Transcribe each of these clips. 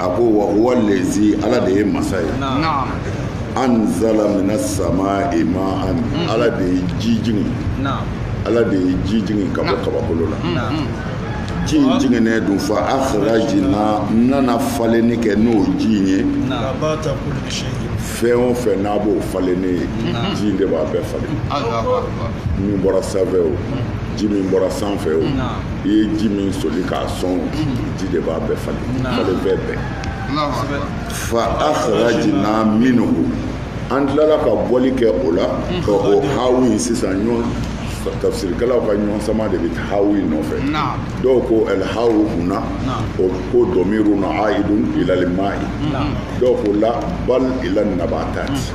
a ko wa huwa lezi ala de ye masa ye anzala mina samai ma'an mm. ala de ye ji jigin ala de ye ji jigin ka bɔ mm. kabakolo la mm. ji in jiginnen dun fa akhrajna n nana falenni kɛ n'o ji in ye fɛn o fɛn n'a b'o falenni ye ji in de b'a bɛɛ falen min bɔra sanfɛ o ji min bɔra sanfɛ o i ye ji min soli k'a sɔn ji de b'a bɛɛ falen falenfɛn bɛɛ fa akhrajna minhu an tilala ka bɔli kɛ o la ka o hawu in sisan ɲɔgɔn tafsirikɛlaw ka ɲɔgɔn sama de bɛ hawu in nɔfɛ dɔw ko al hawu huna o ko dɔmiru na aidun ilal ma'i dɔw ko la bal ila nabatati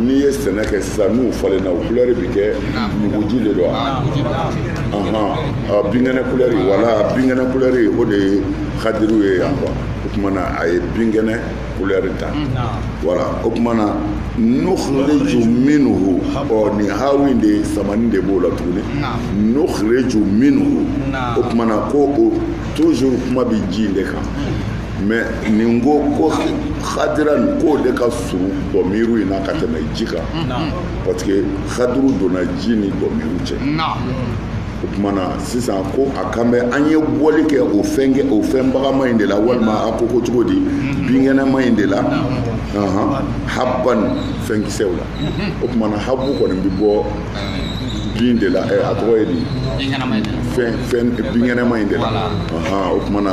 n'i ye sɛnɛ kɛ sisan n'u falenna u kulɛri bɛ kɛ nuguji de don wa binkɛnɛ kulɛri wala binkɛnɛ kulɛri o de ye khadiru ye yan quoi o tuma na a ye binkɛnɛ kulɛri ta voilà o tuma na nukhriju minhu ɔ nin hawi in de samani de b'o la tuguni nukhriju minhu o tuma na ko o toujours kuma bɛ ji in de kan mais nin ko ko khadiran k'o de ka surun dɔmiru in na ka tɛmɛ ji kan parce que khadiru donna ji ni dɔmiru cɛ o tuma na sisan ko a kan bɛ an ye bɔli kɛ o fɛn bagaman in de la walima a ko ko cogo di binkɛnɛma in de la habban fɛnkisɛw la o tuma na habbu kɔni bɛ bɔ bin de la a tɔgɔ ye di binkɛnɛma in de la o tuma na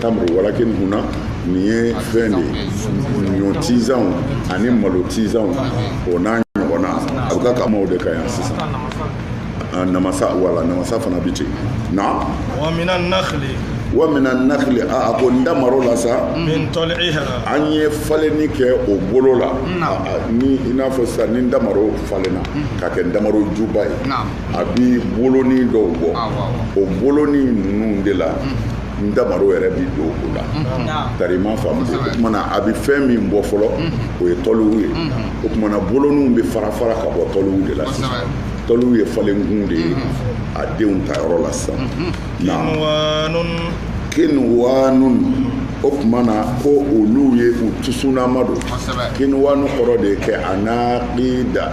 tamuru walakin huna nin ye fɛn de ye ɲɔ tizanw ani malo tizanw o n'a ɲɔgɔnna a bɛ ka kuma o de kan yan sisan namasa wala namasa fana bɛ ten naam wa mina nakhli wa mina nakhli a ko ntamaro la sa min tɔliha an ye falenni kɛ o bolo la ni i n'a fɔ sisan ni ntamaro falenna ka kɛ ntamaro juba ye a bi bolonin dɔw bɔ o bolonin ninnu de la ntamaro yɛrɛ bi don o la tari i m'a faamu dɛ o kumana a bi fɛn min bɔ fɔlɔ o ye tɔliw ye o kumana boloninw bɛ fara fara ka bɔ tɔliw de la sisan tɔliw ye falenkun de ye a denw ta yɔrɔ la sisan kinwanun o tuma na ko olu ye u tusunama don kinwanu kɔrɔ de kɛ anakida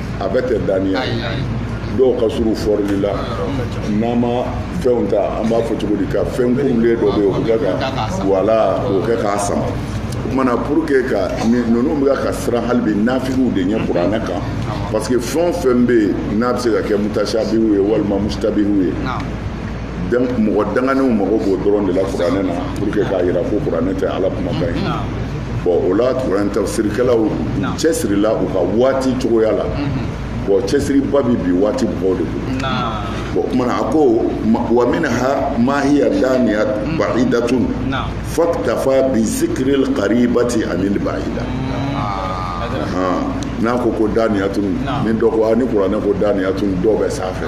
a bɛ tɛ daniya dɔw ka surun fɔrili la n'an ma fɛnw ta an b'a fɔ cogo di ka fɛn kunlen dɔ bɛ yen o bɛ kɛ ka wala o kɛ k'a sama o kumana pour que ka ninnu bɛ ka siran hali bi nafigiw de ɲɛ kuranɛ kan parce que fɛn o fɛn bɛ yen n'a bɛ se ka kɛ mutashabihu ye walima mushtabihu ye mɔgɔ danganenw mago b'o dɔrɔn de la kuranɛ na pour que k'a jira ko kuranɛ tɛ ala kumakan ye bon o la kuranɛ tafsirikɛlaw cɛsirila u ka waati cogoya la bon cɛsiriba bi bi waati mɔgɔw de bolo bon o kuma na a ko wa minha ma hiya daniya ba'idatun faktafa bi zikril qaribati anil ba'ida n'a ko ko daniyatun ni dɔ ko ni kuranɛ ko daniyatun dɔ bɛ sanfɛ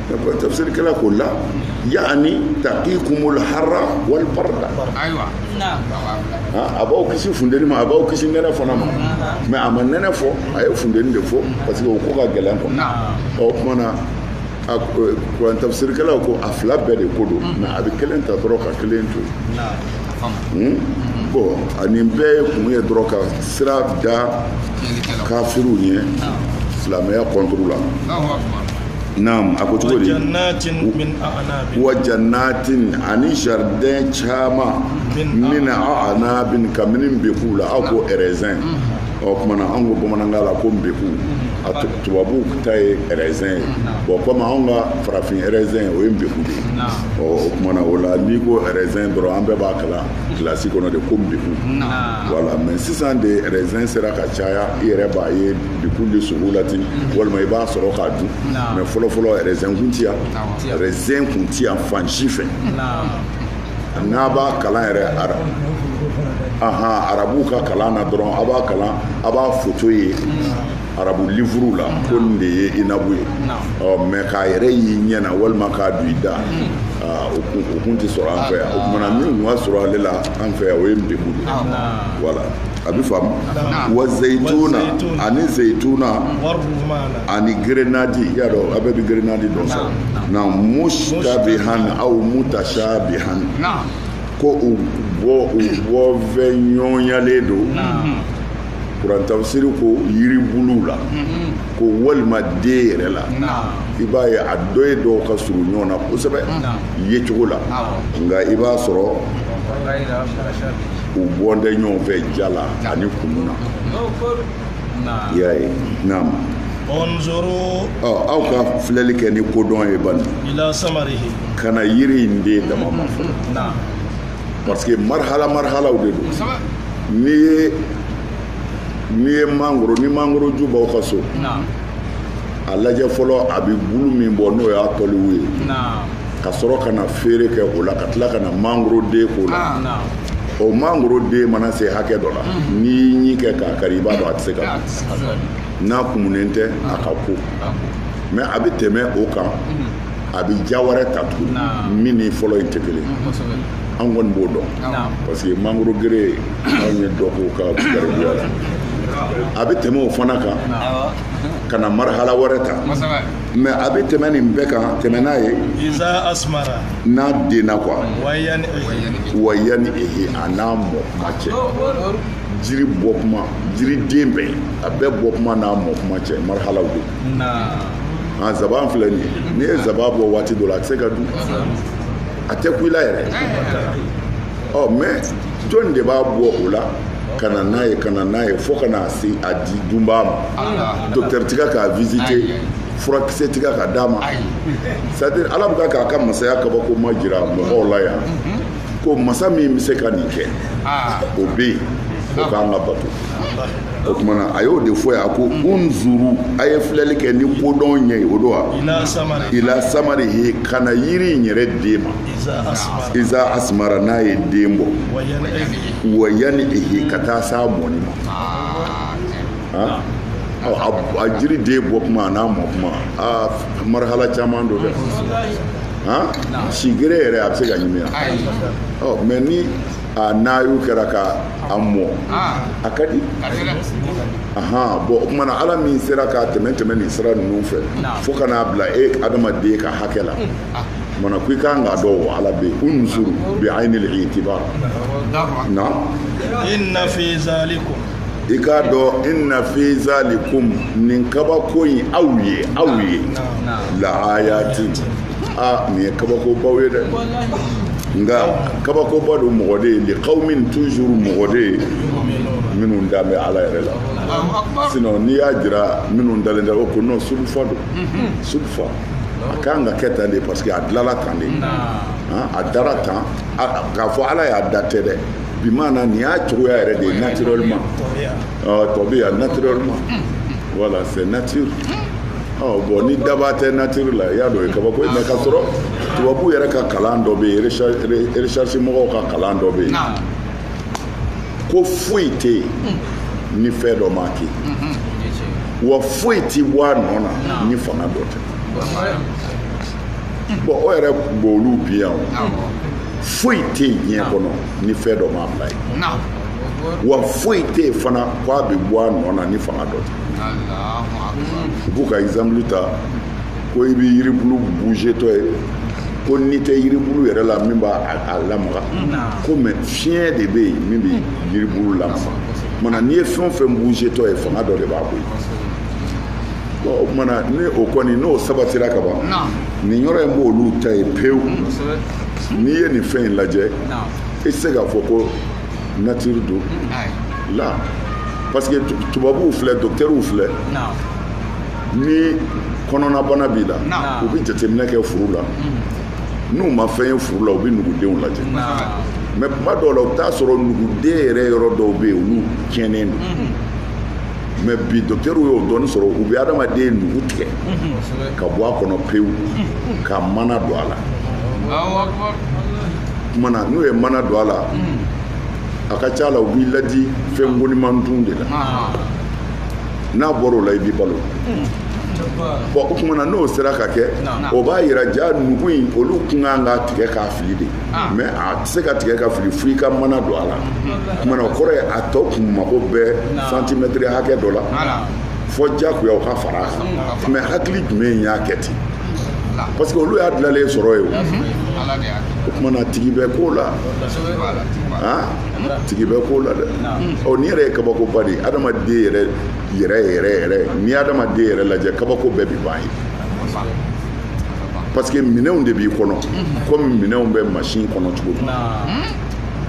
tafsirikɛla ko la yaani taqikumul harra wal barda ayiwa a b'aw kisi funteni ma a b'aw kisi nɛnɛ fana ma mais a ma nɛnɛ fɔ a ye funteni de fɔ parce que o ko ka gɛlɛn quoi o kuma na kuran tafsirikɛlaw ko a fila bɛɛ de ko don mais a bɛ kelen ta dɔrɔn ka kelen to yen bon ani bɛɛ ye kun ye dɔrɔn ka sira da kafiriw ɲɛ silamɛya kɔnturu la naam a ko cogo di wa jannatin ani jardin caman min a'nabin kabini nbeku la aw ko raisin mm-hmm. o kuma na an ko bamanankan la ko nbeku a tubabuw ta ye raisin ye bon comme anw ka farafin raisin o ye nbeku de ye ɔ o kuma na o la n'i ko raisin dɔrɔn an bɛɛ b'a kalan kilasi kɔnɔ de ko nbeku voilà mais sisan de raisin sera ka caya i yɛrɛ b'a ye nbeku de sugu la ten walima i b'a sɔrɔ k'a dun mais fɔlɔfɔlɔ raisin kun ti yan raisin kun ti yan fan si fɛ n'a b'a kalan yɛrɛ ara ahan arabuw ka kalan na dɔrɔn a b'a kalan a b'a foto ye arabu livuru la ko nin de ye inabu ye ɔ mais k'a yɛrɛ y'i ɲɛ na walima k'a don i da o kun o kun tɛ sɔrɔ an fɛ yan o kuma na min kun ka surun ale la an fɛ yan o ye nbeku de ye voilà a bɛ faamu wa zeyituna ani zeyituna ani grenadi i y'a dɔn a bɛɛ bɛ grenadi dɔn sa na mushtabihan aw mutashabihan ko u bɔ u bɔ fɛn ɲɔgɔnyalen don kuran tafsiri ko yiribuluw la ko walima den yɛrɛ la i b'a ye a dɔ ye dɔw ka surun ɲɔgɔn na kosɛbɛ yecogo la nka i b'a sɔrɔ u bɔlen tɛ ɲɔgɔn fɛ diya la ani kumu na i y'a ye naam unzuru ɔ aw ka filɛli kɛ ni kodɔn ye bani ila samarihi ka na yiri in den dama ma fɔlɔ naam parce que marhala marhalaw de don n'i ye n'i ye mangoro ni mangoro ju b'aw ka so naam a lajɛ fɔlɔ a bɛ bulu min bɔ n'o y'a tɔliw ye naam ka sɔrɔ ka na feere kɛ o la ka tila ka na mangoro den k'o la ah, o mangoro den mana se hakɛ dɔ la mm-hmm. n'i y'i ɲin kɛ k'a kari i b'a dɔn a tɛ se ka dun n'a kumunen tɛ a ka ko mais a bɛ tɛmɛ o kan mm-hmm. a bɛ ja wɛrɛ ta tuguni min ni fɔlɔ in tɛ kelen mm, an kɔni b'o dɔn parce que mangoro gere anw ye dɔ k'o ka garibuya la a bɛ tɛmɛ o fana kan ka na marhala wɛrɛ ta mais a bɛ tɛmɛ nin bɛɛ kan tɛmɛ n'a ye n'a denna quoi wa yanihi a n'a mɔ kuma cɛ jiri bɔ kuma jiri den bɛɛ a bɛɛ bɔ kuma n'a mɔ kuma cɛ marhalaw don a zaban filɛ nin ye n'i ye zaban bɔ waati dɔ la a tɛ se ka dun a tɛ kun i la yɛrɛ ɔ mais jɔni de b'a bɔ o la ka na n'a ye ka na n'a ye fo ka na se a di dunbaa ma ah. docteur tɛ ka k'a visiter furakisɛ tɛ ka ka d'a ma c'est à dire ala bɛ ka k'a ka masaya kabako ma jira mɔgɔw la yan mhm. ko masa min bɛ se ka nin kɛ ah. o bɛ yen o ka kan ka bato o tuma na a y'o de fɔ yan ko mhm. unzuru a ye filɛli kɛ ni kodɔn ɲɛ ye o don wa ila samarihi ka na yiri in yɛrɛ den ma iza asmara n'a ye den bɔ wa yanihi ka taa s'a mɔni ma ah, a jiri den bɔ kuma n'a mɔ kuma aa marhala caman don dɛ si gere yɛrɛ a bɛ se ka ɲimi yan ɔ mais ni a n'ayu kɛra ka a mɔ a ka di ahan bon o kuma na ala min sera k'a tɛmɛ tɛmɛ nin sira ninnu fɛ fo ka n'a bila e adamaden ka hakɛ la maana ko i ka kan k'a dɔn o ala bɛ yen unzuru bi aynil itibar na inna fi zalikum i k'a dɔn inna fi zalikum nin kabako in aw ye aw ye la ayatin nin ye kabakobaw ye dɛ nka kabakoba don mɔgɔ de ye li qawmin toujours mɔgɔ de ye minnu da bɛ ala yɛrɛ la sinon n'i y'a jira minnu dalen tɛ o ko non sudfa don sudfa a ka kan ka kɛ tan de parce que a dilala tan de a dara tan k'a fɔ ala y'a da tɛ dɛ bi maana nin y'a cogoya yɛrɛ de ye naturellement tabiiyan naturellement voilà c'est nature bon ni dabaa tɛ nature la i y'a dɔn o ye kabako ye mais ka sɔrɔ tubabu yɛrɛ ka kalan dɔ bɛ yen recherche mɔgɔw ka kalan dɔ bɛ yen ko foyi tɛ yen ni fɛn dɔ m'a kɛ wa foyi tɛ bɔ a nɔ na ni fanga dɔ tɛ bon o yɛrɛ b'olu bin yan o foyi tɛ yen diɲɛ kɔnɔ ni fɛn dɔ m'a bila yen wa foyi tɛ yen fana ko a bɛ bɔ a nɔ na ni fanga dɔ tɛ u b'u ka exemple ta. ko i bɛ yiribulu buzetɔ ye ko ni tɛ yiribulu yɛrɛ la min b'a lamaga ko mɛ fiɲɛ de bɛ yen min bɛ yiribulu lamaga mana n'i ye fɛn o fɛn buzetɔ ye fanga dɔ de b'a bɔ yen o kumana ni o kɔni n'o sabatira ka ban nin yɔrɔ in b'olu ta ye pewu n'i ye nin fɛn in lajɛ i tɛ se k'a fɔ ko natiri don la parce que tubabuw filɛ dɔkitɛriw filɛ ni kɔnɔnabana b'i la u bɛ jateminɛ kɛ furu la n'u ma fɛn ye furu la u bɛ nugudenw lajɛ mɛ kuma dɔw la u t'a sɔrɔ nuguden yɛrɛ yɔrɔ dɔw bɛ yen olu tiɲɛnen don mɛ bi dɔkitɛriw y'o dɔɔni sɔrɔ u bɛ adamaden nugu tigɛ ka bɔ a kɔnɔ pewu ka mana don a la kumana n'u ye mana don a la a ka ca la u b'i ladi fɛn goniman dun de la n'a bɔra o la i b'i balo bɔn o kumana n'o sera ka kɛ o b'a yira ja nugu in olu kun kan ka tigɛ k'a fili de ah. mɛ a tɛ se ka tigɛ ka fili fo i ka mana don a la kumana o kɔrɔ ye a tɔ kun mago bɛ santimɛtiri hakɛ dɔ la fo jagoya o ka fara a kan mɛ hakili jumɛn y'a kɛ ten parce que olu y'a dilalen sɔrɔ ye o kumana tigi bɛ ko la tigi bɛ ko la dɛ ɔ nin yɛrɛ ye kabakoba de adamaden yɛrɛ yɛrɛ yɛrɛ yɛrɛ n'i adamaden yɛrɛ lajɛ kabako bɛɛ bi ban yen parce que minɛnw de b'i kɔnɔ komi minɛnw bɛ machine kɔnɔ cogo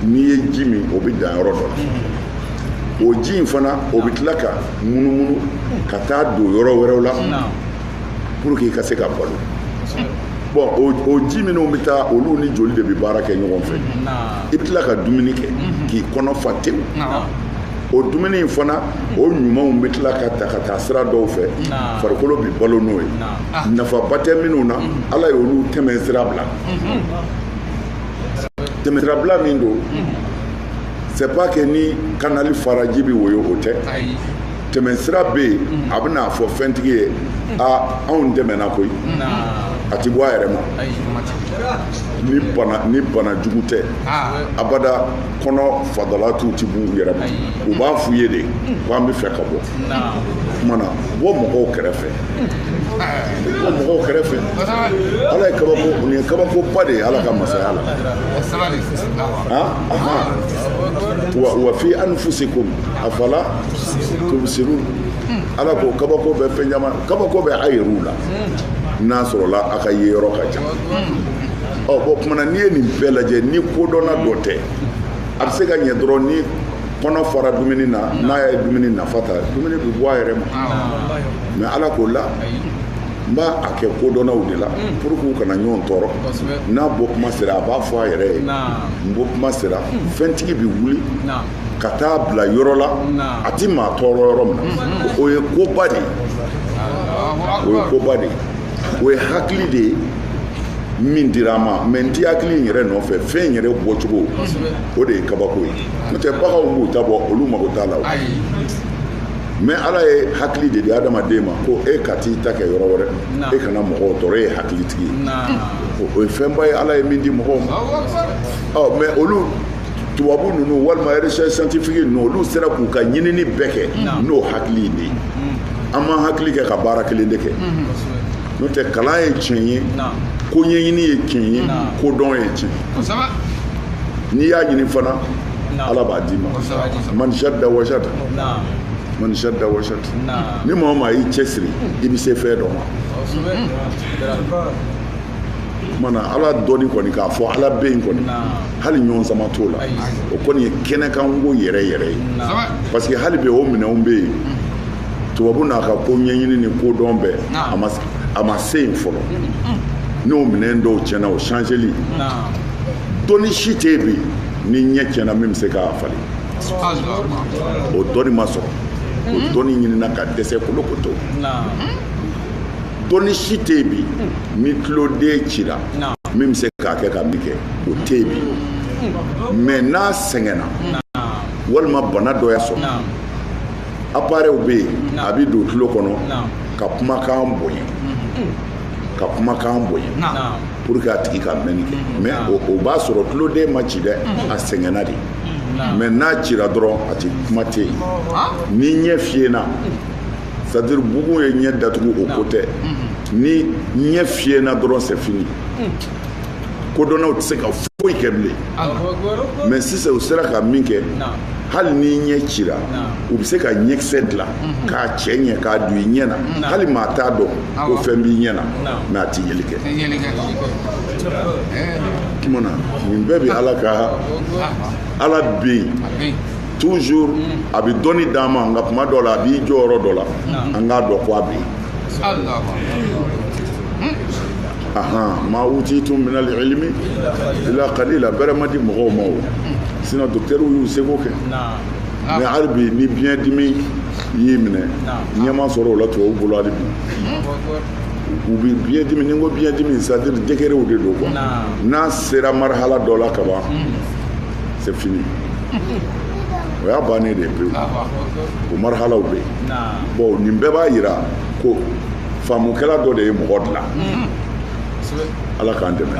min n'i ye ji min o bɛ dan yɔrɔ dɔ la o ji in fana o bɛ tila ka munumunu ka taa don yɔrɔ wɛrɛw la pour que i ka se ka balo bɔn o ji minnu bɛ taa olu ni joli de bɛ baara kɛ ɲɔgɔn fɛ i bɛ tila ka dumuni kɛ mhm. k'i kɔnɔ fa tewu o dumuni in fana o ɲumanw bɛ tila ka ta ka taa sira dɔw fɛ farikolo bɛ balo n'o ye ah. nafaba tɛ minnu na mhm. ala y'olu tɛmɛ sira bila mhm. tɛmɛ sira bila min don c'est pas que ni kanali faraji bɛ woyo o tɛ tɛmɛ sira bɛ yen a bɛn'a fɔ fɛntigi ye a anw tɛmɛna koyi a ti bɔ a yɛrɛ ma ni bana ni bana jugu tɛ abada kɔnɔ fadalatiw ti b'u yɛrɛ ma u b'a f'u ye de ko an bɛ fɛ ka bɔ kumana bɔ mɔgɔw kɛrɛfɛ bɔ mɔgɔw kɛrɛfɛ ala ye kabako nin ye kabakoba de ye ala ka masaya la wa wa fi anfusikum afala tubsirun ala ko kabako bɛ fɛn caman kabako bɛ a yɛrɛw la n'a sɔrɔla a ka ye yɔrɔ ka ca ɔ bon kuma na n'i ye nin bɛɛ lajɛ ni kodɔnna dɔ tɛ a bɛ se ka ɲɛ dɔrɔn ni kɔnɔ fara dumuni na n'a ye dumuni nafa ta dumuni bɛ bɔ a yɛrɛ ma mɛ ala k'o la n b'a kɛ kodɔnnaw de la pour que u kana ɲɔgɔn tɔɔrɔ n'a bɔ kuma sera a b'a fɔ a yɛrɛ ye n bɔ kuma sera fɛntigi bɛ wuli ka taa bila yɔrɔ la a tɛ maa tɔɔrɔ yɔrɔ min na o ye koba de ye o ye koba de ye o ye hakili de ye min dira a ma mɛ n ti hakili in yɛrɛ nɔfɛ fɛn yɛrɛ bɔcogo o de ye kabako ye n'o tɛ baganw b'u ta bɔ olu mago t'a la mɛ ala ye hakili de di adamaden ma ko e ka t'i ta kɛ yɔrɔ wɛrɛ e kana mɔgɔw tɔɔrɔ e ye hakilitigi ye o ye fɛnba ye ala ye min di mɔgɔw ma mɛ olu tubabu ninnu walima recherche scientifique ninnu olu sera k'u ka ɲinini bɛɛ kɛ n'o hakili in de ye an m'an hakili kɛ ka baara kelen de kɛ n'o tɛ kalan ye tiɲɛ ye ko ɲɛɲini ye tiɲɛ ye ko dɔn ye tiɲɛ n'i y'a ɲini fana ala b'a d'i ma man jadda wajada man jadda wajada ni maa o maa y'i cɛsiri i bɛ se fɛn dɔ ma kuma na ala dɔnni kɔni k'a fɔ ala bɛ yen kɔni hali ɲɔgɔn sama t'o la o kɔni ye kɛnɛkanko yɛrɛ yɛrɛ ye parce que hali bi o minɛnw bɛ yen mm. tubabu n'a ka ko ɲɛɲini ni ko dɔn bɛɛ a ma se yen fɔlɔ mm, mm. n'o minɛn dɔw tiɲɛna o changeli dɔnni si tɛ yen bi ni ɲɛ tiɲɛna min bɛ se k'a falen o dɔnni ma sɔrɔ o dɔnni ɲinina ka dɛsɛ kolo ko to dɔnni si tɛ yen bi ni tuloden cira min bɛ se k'a kɛ ka min kɛ o tɛ yen bi mɛ n'a sɛgɛnna walima bana dɔ y'a sɔrɔ aparɛw bɛ yen a bɛ don tulo kɔnɔ ka kumakan bonya ka kumakan bonya pour que a tigi ka mɛnni kɛ mɛ o b'a sɔrɔ tuloden ma ci dɛ a sɛgɛnna de mɛ n'a cira dɔrɔn a tɛ kuma tɛ yen ni ɲɛ fiyɛna c'est-à-dire bugun ye ɲɛ datugu o ko tɛ ni ɲɛ fiyɛna dɔrɔn c'est fini kodɔnnaw tɛ se ka foyi kɛ bilen mɛ sisan u sera ka min kɛ hali ni ɲɛ cira u bɛ se ka ɲɛkisɛ dilan k'a cɛ ɲɛ k'a don i ɲɛ na hali maa t'a dɔn ko fɛn b'i ɲɛ na mɛ a tɛ yeli kɛ tuma na nin bɛɛ bɛ ala ka ala bɛ yen toujours mm. a bɛ dɔnni d'an ma nka kuma dɔ la a b'i jɔ yɔrɔ dɔ la an k'a dɔn ko a bɛ yen ahan ma utitum min al ilmi illa qalila bɛrɛ ma di mɔgɔw ma o sinon docteurw y'u seko kɛ mais hali bi ni biɲɛ dimi y'i minɛ ɲɛ ma sɔrɔ o la tubabu bolo hali bi u bɛ biɲɛ dimi ni n ko biɲɛ dimi c'est à dire degerew de don quoi n'a sera marhala dɔ la kaban c'est fini o y'a bannen de ye pewu o marhalaw bɛ yen bon nin bɛɛ b'a yira ko faamukɛla dɔ de ye mɔgɔ dilan ala k'an dɛmɛ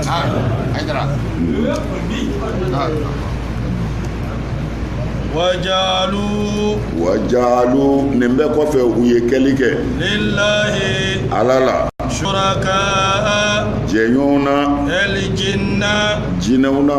wa ja'alu wa ja'alu nin bɛɛ kɔfɛ u ye kɛli kɛ lillahi ala la suraka jɛɲɔgɔnw na al jinna jinɛw na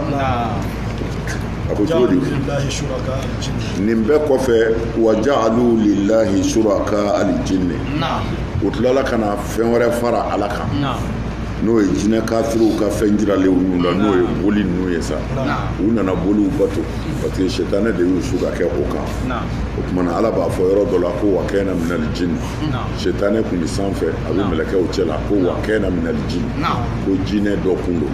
a ko cogo di nin bɛɛ kɔfɛ wa ja'alu lillahi suraka alijinni u tilala ka na fɛn wɛrɛ fara ala kan n'o ye jinɛ kafiriw ka fɛn jiralenw ninnu la n'o ye boli ninnu ye sa u nana boliw bato parce que sɛtanɛ de y'u su ka kɛ o kan o tuma na ala b'a fɔ yɔrɔ dɔ la ko wa kɛna minali jini sɛtanɛ kun bɛ sanfɛ a bɛ mɛlɛkɛw cɛ la ko wa kɛna minali jini ko jinɛ dɔ kun don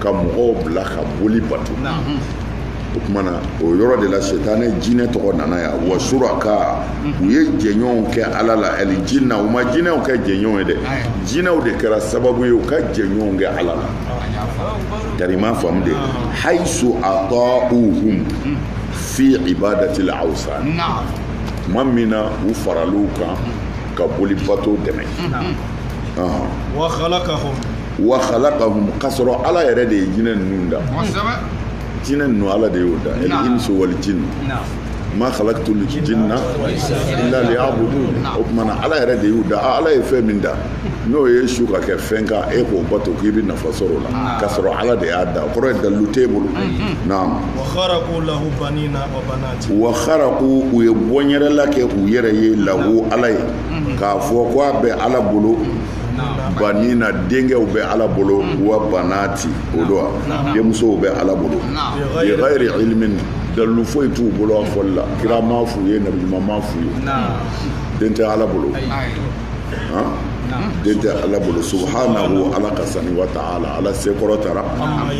ka mɔgɔw bila ka boli bato o tuma na o yɔrɔ de la setanɛ jinɛ tɔgɔ nana yan wa suraka u ye jɛɲɔgɔnw kɛ ala la ali jinna u ma jinɛw kɛ jɛɲɔgɔn ye dɛ jinɛw de kɛra sababu ye u ka jɛɲɔgɔnw kɛ ala la tari ma faamu de haisu atauhum fi ibadati l awsan tuma min na u faral'u kan ka boli bato dɛmɛ wa khalaqahum wa khalaqahum k'a sɔrɔ ala yɛrɛ de ye jinɛ ninnu da jinɛ ninnu ala de y'o da el insu wal jinn ma khalaqtu l jinna illa liya'budun o tuma na ala yɛrɛ de y'u da ala ye fɛn min da n'o y'e su ka kɛ fɛn kan e k'o bato k'i bɛ nafa sɔrɔ o la k'a sɔrɔ ala de y'a da o kɔrɔ ye dalilu t'e bolo naam wa kharaqu lahu banina wa banati wa kharaqu u ye bɔnyɛrɛla kɛ u yɛrɛ ye lahu ala ye k'a fɔ ko a bɛ ala bolo banina denkɛw bɛ ala bolo mm. wa banati o don wa denmusow bɛ ala bolo bi ghairi ilmin dalilu foyi t'u bolo a fɔli la kira m'a f'u ye nabi ɲuman m'a f'u ye den tɛ ala bolo den tɛ ala bolo subhanahu ala ka sani wa ta'ala ala se kɔrɔtara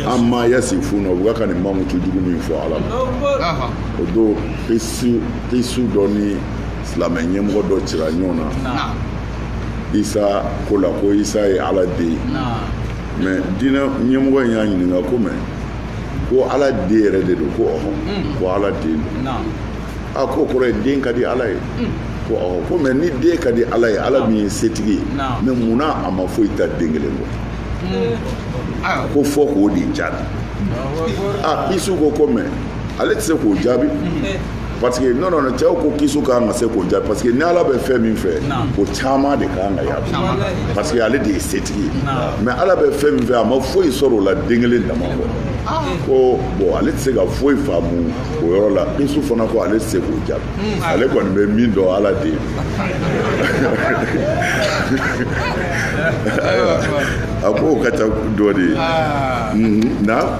amma yasifuna u ka ka nin mankutu jugu min fɔ ala ma o don kisi dɔ ni silamɛ ɲɛmɔgɔ dɔ cira ɲɔgɔn na isa ko la ko isa ye ala den ye mais diinɛ ɲɛmɔgɔ in y'a ɲininka ko mais ko ala den yɛrɛ de don ko ɔhɔn hmm. ko ala den don a ko kɔrɔ ye den ka di ala ye hmm. ko ɔhɔn ko mais ni den ka di ala ye ala min ye setigi ye mais mun na a ma foyi ta den kelen kɔ hmm. ko fɔ k'o de jaabi a kisu ko ko mais ale tɛ se k'o jaabi parce que non non cɛw ko kisu ka kan ka se k'o jaabi parce que ni ala bɛ fɛn min fɛ o caman de ka kan ka y'a kun parce que ale de ye setigi ye mais ala bɛ fɛn min fɛ a ma foyi sɔrɔ o la den kelen dama kɔ ah. ko bon ale tɛ se ka foyi faamu o yɔrɔ la kisu fana ko ale tɛ se k'o jaabi hmm. ale kɔni bɛ min dɔn ala de ye a ko o ka ca dɔ de ye ah. mhm. na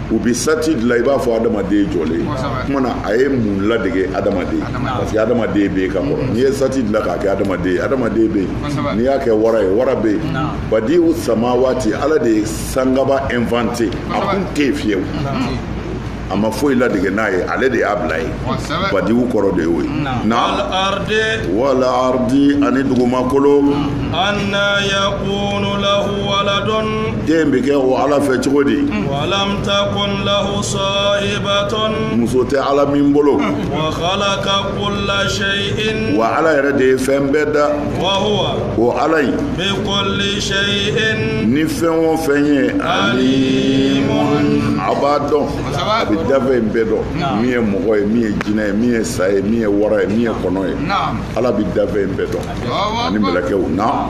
u bɛ sati dilan i b'a fɔ adamaden jɔlen kuma na a ye mun ladege adamaden parce que adamaden bɛ yen ka kɔrɔ n'i ye sati dilan k'a kɛ adamaden ye adamaden bɛ yen n'i y'a kɛ wara ye wara bɛ yen badi'u samawati ala de ye sankaba inventé a kun tɛ yen fiyewu a ma foyi ladege n'a ye ale de y'a bila yen badi'u kɔrɔ de y'o ye wal ardi ani dugumakolo anna yakunu lahu den bɛ kɛ o ala fɛ cogo di muso tɛ ala min bolo wa ala yɛrɛ de ye fɛn bɛɛ da o ala in ni fɛn o fɛn ye ani a b'a dɔn a bɛ dafɛn bɛɛ dɔn min ye mɔgɔ ye min ye jinɛ ye min ye sa ye min ye wara ye min ye kɔnɔ ye ala bɛ dafɛn bɛɛ dɔn ani mɛlɛkɛw na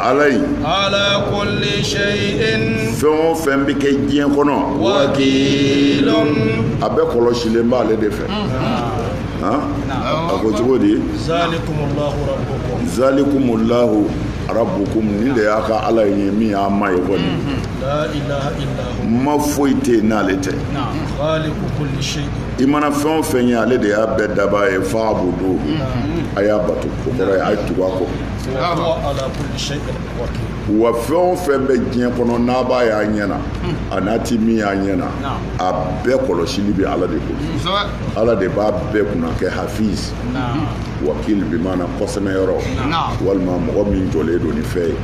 ala in ala kulli shay'in fɛn o fɛn bɛ kɛ diɲɛ kɔnɔ wakilun a bɛɛ kɔlɔsilen b'ale de fɛ mm-hmm. a ko cogo di zalikumullahu rabbukum nin de y'a ka ala ye min y'a ma ye kɔni mm-hmm. ma foyi tɛ yen n'ale tɛ i mana fɛn o fɛn ye ale de y'a bɛɛ daba ye fa'buduhu mm-hmm. a y'a bato o kɔrɔ ye a ye tugu a kɔ wa fɛn o fɛn bɛ diɲɛ kɔnɔ n'a b'a y'a ɲɛ na an'a ti min y'a ɲɛ na a bɛɛ kɔlɔsili bɛ ala de bolo ala de b'a bɛɛ kunna kɛ hafiz wakil bi maana kɔsɛmɛ yɔrɔ walima mɔgɔ min jɔlen don ni fɛn ye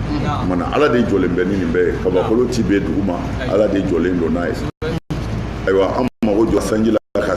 maana ala de jɔlen bɛ ni nin bɛɛ ye kabakolo ti bin dugu ma ala de jɔlen don n'a ye ayiwa an mago jɔ sanji la ka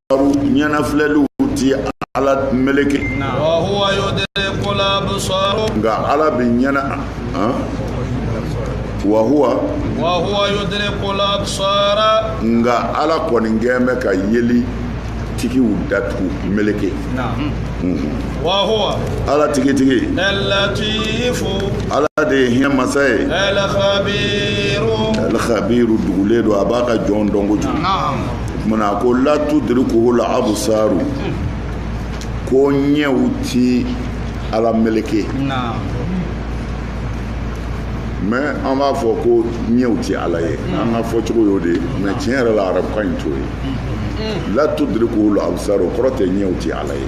ɲɛnafilɛliw ti ala meleke nka ala bɛ ɲɛna wahuwa nka ala kɔni gɛn bɛ ka yeli tigiw datugu meleke wahuwa allatifu ala de ye hinɛ masa ye alkhabiru dugulen don a b'a ka jɔn dɔn kojugu mana ko la tudrikul absaru ko ɲɛw ti ala meleke mais an b'a fɔ ko ɲɛw ti ala ye an ka fɔcogo y'o de ye mais tiɲɛ yɛrɛ la arabukan in t'o ye la tudrikul absaru o kɔrɔ tɛ ɲɛw ti ala ye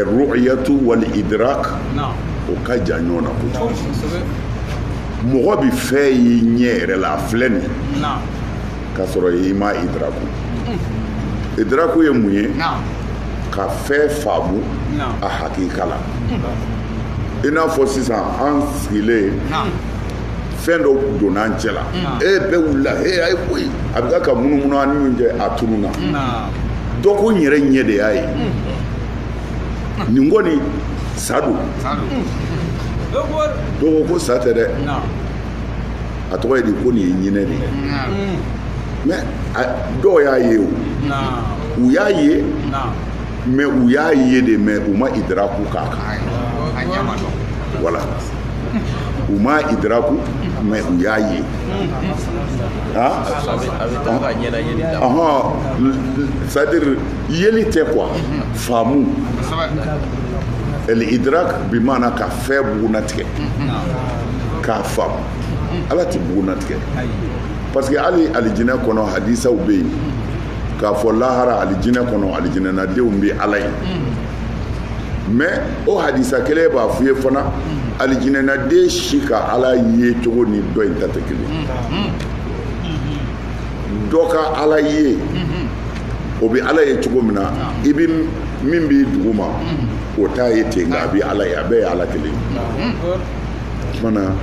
ar-ru'yatu wal idrak o ka jan ɲɔgɔn na kojugu mɔgɔ bɛ fɛn ye ɲɛ yɛrɛ la a filɛ nin ye k'a sɔrɔ i ma idraku idraku ye mun ye ka fɛn faamu a hakika la i n'a fɔ sisan an sigilen fɛn dɔ donna an cɛ la e bɛɛ wulila e a ye koyi a bɛ ka munumunu an ni ɲɔgɔn cɛ a tununna dɔ ko n yɛrɛ ɲɛ de y'a ye nin kɔni sa don dɔw ko ko sa tɛ dɛ a tɔgɔ ye di ko nin ye ɲinɛ de ye mais dɔw y'a ye o u y'a ye mais u y'a ye dɛ mais u ma idraku k'a kan voilà u ma idraku mais u y'a ye c'est-à-dire yeli tɛ quoi faamu el idrak bi mana ka fɛn bugunnatigɛ k'a faamu ala tɛ bugunnatigɛ parce que hali alijinɛ kɔnɔ hadisaw bɛ yen k'a fɔ lahara alijinɛ kɔnɔ alijinɛnadenw bɛ ala ye mais o hadisa kelen b'a f'u ye fana alijinɛnaden si ka ala ye cogo ni dɔ in ta tɛ kelen dɔ ka ala ye o bɛ ala ye cogo min na i bɛ min b'i duguma o t'a ye ten nka a bɛ ala ye a bɛɛ ye ala kelen ye mana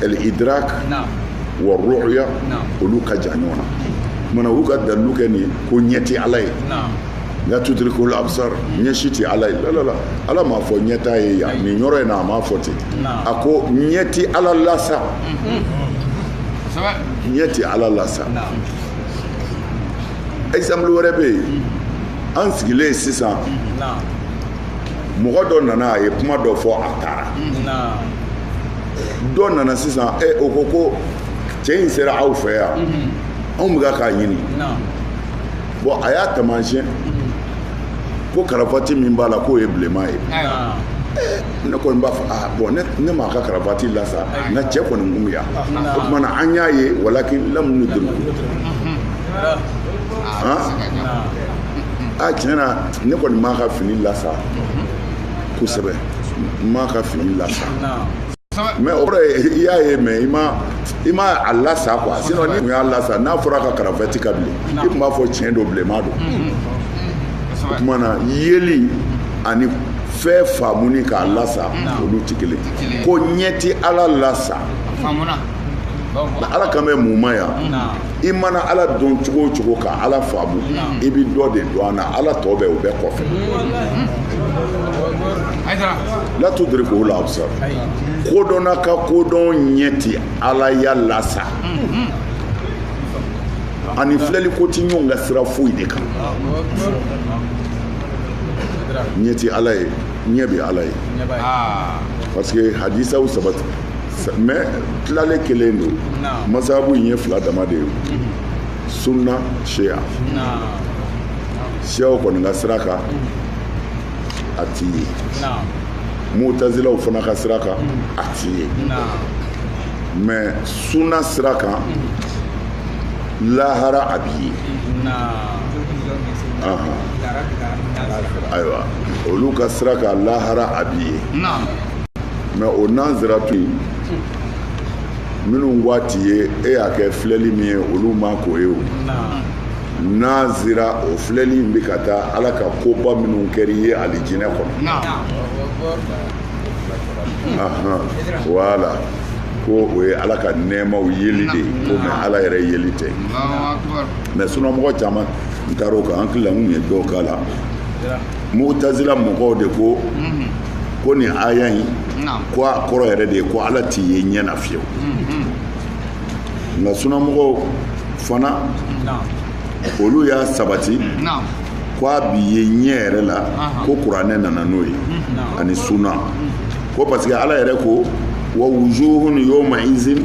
el idrak wa ru'ya olu ka jan ɲɔgɔn na mana u ka dalilu kɛ nin ko ɲɛ tɛ ala ye la tudrikul absar ɲɛ si tɛ ala ye la la la ala m'a fɔ ɲɛ t'a ye yan nin yɔrɔ in na a m'a fɔ ten a ko ɲɛ tɛ ala lasa ɲɛ tɛ ala lasa exemple wɛrɛ bɛ yen an sigilen sisan mɔgɔ dɔ nana a ye kuma dɔ fɔ a taara dɔ nana sisan e o ko ko cɛ in sera aw fɛ yan anw bɛ ka k'a ɲini bon a y'a taamasiyɛn ko karafati min b'a la k'o ye bilenman ye ne kɔni b'a fɔ aa bon ne ne m'a ka karafati lasa nka cɛ kɔni kun bɛ yan o tuma na an y'a ye walakin lam nudrikhu a tiɲɛ na ne kɔni m'a ka fini lasa kosɛbɛ n m'a ka fini lasa mais o kɔrɔ ye i y'a ye mais i ma i ma a lasa quoi sinon n'i tun y'a lasa n'a fɔra ko karavati ka bilen i tun b'a fɔ tiɲɛ don bilenman don o tuma na yeli ani fɛn faamuni k'a lasa olu tɛ kelen ko ɲɛ tɛ ala lasa ala kan bɛ mun ma yan i mana ala dɔn cogo o cogo ka ala faamu i bɛ dɔ de dɔn a na ala tɔ bɛ o bɛɛ kɔfɛ la tudrikuhu l-absar kodɔnna ka kodɔn ɲɛ ti alaya lasa ani filɛli ko ti ɲɔgɔn ka sira foyi de kan ɲɛ ti ala ye ɲɛ bɛ ala ye parce que hadisaw sabati mais tilalen kelen don masabu in ye fila dama de ye sunna shia shiaw kɔni ka sira kan a ti ye mutazilaw fana ka sira kan a ti ye mais sunna sira kan lahara a bi ye ayiwa olu ka sira kan lahara a bi ye mais o naziratu in minnu ko a ti ye e y'a kɛ filɛli min ye olu ma k'o ye o nazira o filɛli in bɛ ka taa ala ka koba minnu kɛra i ye alijinɛ kɔnɔ wala ko o ye ala ka nɛɛmaw yeli de ye ko mais ala yɛrɛ yeli tɛ mais sunamɔgɔ caman taara o kan an hakili la n kun ye dɔw kalan mutazila mɔgɔw de ko mhm. ko nin aya in ko a kɔrɔ yɛrɛ de ye ko ala ti ye ɲɛ na fiyewu mhm. nka sunamɔgɔw fana olu y'a sabati ko a bi ye ɲɛ yɛrɛ la ko kuranɛ nana n'o ye ani suna ko parce que ala yɛrɛ ko wa wujuhun yawma izin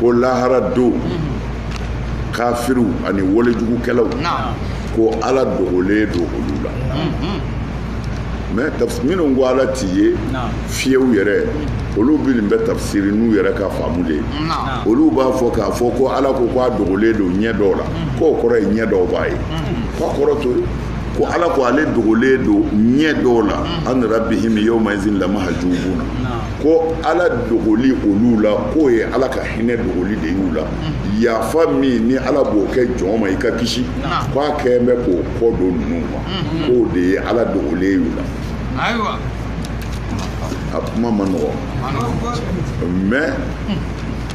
ko lahara don kafiriw ani walejugukɛlaw ko ala dogolen don olu la mais minnu ko ala ti ye fiyew yɛrɛ olu bɛ nin bɛɛ tafsiri n'u yɛrɛ ka faamu de ye olu b'a fɔ k'a fɔ ko ala ko k'a dogolen don ɲɛ dɔw la k'o kɔrɔ ye ɲɛ dɔw b'a ye k'a kɔrɔ t'o ye ko ala ko ale dogolen don ɲɛ dɔw la an rabbihim yawma izin lamahjubuna ko ala dogoli olu la k'o ye ala ka hinɛ dogoli de y'u la mm. yafa min ni ala b'o kɛ jɔn ma i ka kisi ko a kɛlen bɛ k'o kɔ don ninnu ma mm-hmm. k'o de ye ala dogolen y'u la a kuma man nɔgɔ mais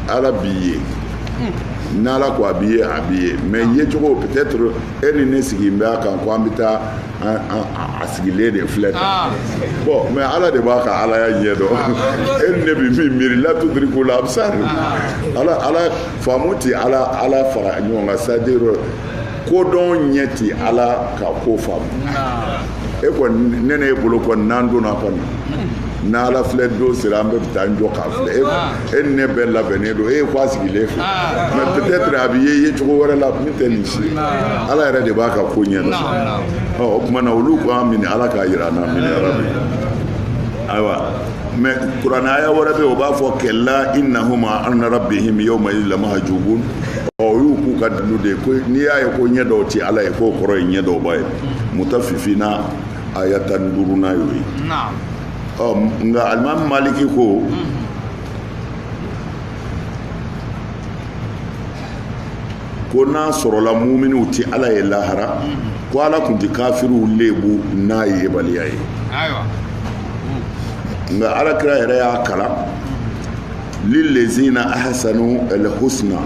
ala bi ye hmm. n'ala ko a bi ye a bi ye mais yecogo peut-être e ni ne jigi bɛ a kan ko an bɛ taa a sigilen de filɛ tan ah. bon mais ala de b'a ka alaya ɲɛ dɔn ah. e ni ne bɛ min miiri la tudiriku labsar ah. ala ala faamu tɛ ala ala fara ɲɔgɔn kan c'est-à-dire kodɔn ɲɛ tɛ ala ka ko faamu e kɔni ne ni e bolo kɔni n'an donna kɔni n'ala filɛ don sera an bɛ taa an jɔ k'a filɛ e e ni ne bɛɛ labɛnnen don e ye ko a sigilen filɛ mais peut-être a bɛ ye yecogo wɛrɛ la min tɛ nin si ala yɛrɛ de b'a ka ko ɲɛ dɔn ɔ o tuma na olu k'a minɛ ala k'a yira an na amiina yarabi ayiwa mais kuranɛ aya wɛrɛ bɛ yen o b'a fɔ kalla innahum an rabbihim yawma lamahjubun ɔ o y'u k'u ka dalilu de ye ko n'i y'a ye ko ɲɛ dɔw ti ala ye k'o kɔrɔ ye ɲɛ dɔw b'a ye mutafifina aya tan ni duurunan y'o ye ɔ nka alimami maliki ko ko n'a sɔrɔla muminiw tɛ ala ye lahara ko ala tun tɛ kafiriw lebu n'a yebaliya ye nka alakira yɛrɛ y'a kalan lilezina ahsanu alhusna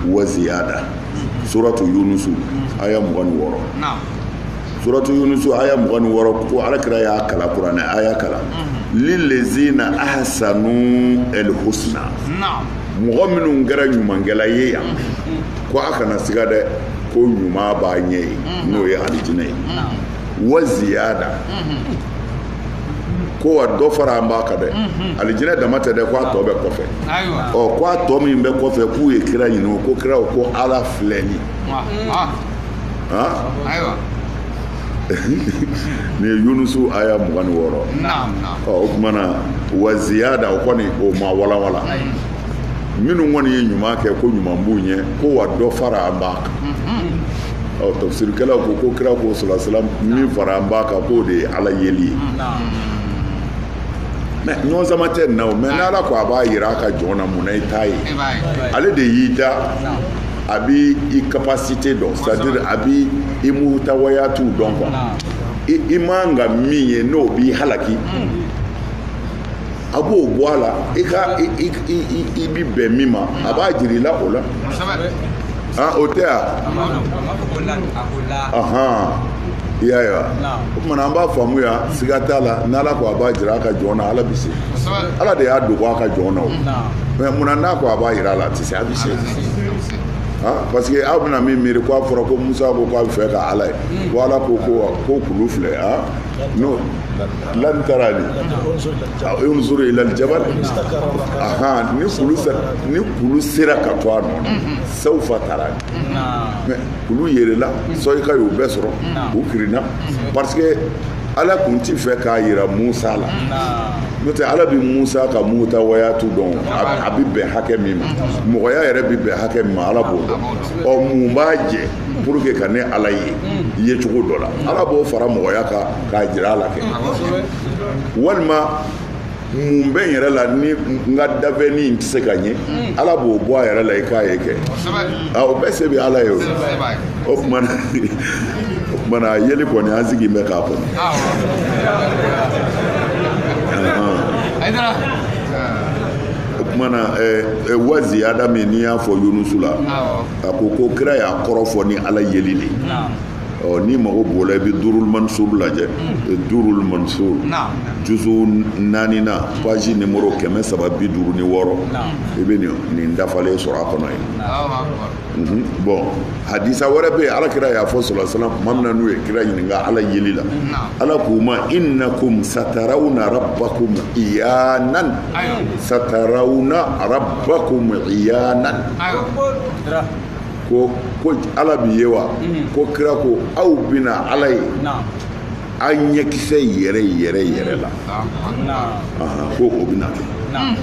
wa ziyada suratu yunusu aya mugan ni wɔɔrɔ suratu yunusu aya mugan ni wɔɔrɔ ko alakira y'a kalan kuranɛ aya kalan lilezina ahsanu alhusna mɔgɔ minnu kɛra ɲumankɛla ye yan ko a kana siga dɛ ko ɲuman b'a ɲɛ ye n'o ye alijinɛ ye wa ziyada ko wa dɔ faralen b'a kan dɛ alijinɛ dama tɛ dɛ ko a tɔ bɛ kɔfɛ ɔ ko a tɔ min bɛ kɔfɛ k'u ye kira ɲininka kira ko ala filɛli ayiwa nin ye yunusu aya mugan ni wɔɔrɔ o tuma na wa ziyada o kɔni o ma walawala minnu kɔni ye ɲuman kɛ ko ɲuman b'u ɲɛ ko wa dɔ faralen b'a kan mm-hmm. ɔ tafsirikɛlaw ko ko kira ko salasalam min faralen b'a kan k'o de ye ala yeli ye mais ɲɔgɔnsama tɛ nin na o mais n'ala ko a b'a yira a ka jɔn na mun na i t'a ye ale de y'i da a bɛ i capacité dɔn c'est à dire a bɛ i mutawayatu dɔn quoi i man ka min ye n'o b'i halaki a b'o bɔ a la i ka i bi bɛn min ma a b'a jira i la o la o tɛ yan i y'a ye wa o tuma na an b'a faamuya siga t'a la n'ala ko a b'a jira a ka jɔn na ala bɛ se ala de y'a dogo a ka jɔn na o mais munna n'a ko a b'a jira a la a tɛ se a bɛ se Parce que aw bɛna min miiri k'a fɔra ko musa ko k'a bɛ fɛ ka ala ye ko ala ko ko ko kulu filɛ n'o lan tarani unzur ila aljabal ni kulu sera ka to a nɔ na sawfa tarani mais kulu yɛrɛla soyika y'u bɛɛ sɔrɔ u kirinna parce ala tun tɛ fɛ k'a jira musa la n'o tɛ ala bɛ musa ka mutawayatu dɔn a bɛ bɛn hakɛ min ma mɔgɔya yɛrɛ bɛ bɛn hakɛ min ma ala b'o dɔn ɔ mun b'a jɛ pour que ka ne ala ye ye cogo dɔ la ala b'o fara mɔgɔya kan k'a jira a la kɛ walima mun bɛ n yɛrɛ la ni n ka dafɛnni in tɛ se ka n ye mm. ala b'o bɔ a yɛrɛ la i k'a ye kɛ o bɛɛ se bɛ ala ye o o tuma na o tuma na yeli kɔni an sigilen bɛ k'a kɔnɔ. o tuma na wa ziyada min i y'a fɔ yunusu la a ko ko kira y'a kɔrɔ fɔ ni ala yeli de ye. ɔ n'i mago b'o la i bɛ durul mansur lajɛ durul mansur juzu naaninan paji nimoro kɛmɛ saba bi duuru ni wɔɔrɔ i bɛ nin dafalen sɔrɔ a kɔnɔ yen mhm. bɔn hadisa wɛrɛ bɛ yen ala kira y'a fɔ salasalam tuma min na n'u ye kira ɲininka ala yeli la ala k'u ma innakum satarawna rabbakum iyanan satarawna rabbakum iyanan ko ko ala bɛ ye wa mm. ko kira ko aw bɛna ala ye aw ɲɛkisɛ yɛrɛ yɛrɛ yɛrɛ la ko o bɛna kɛ mm.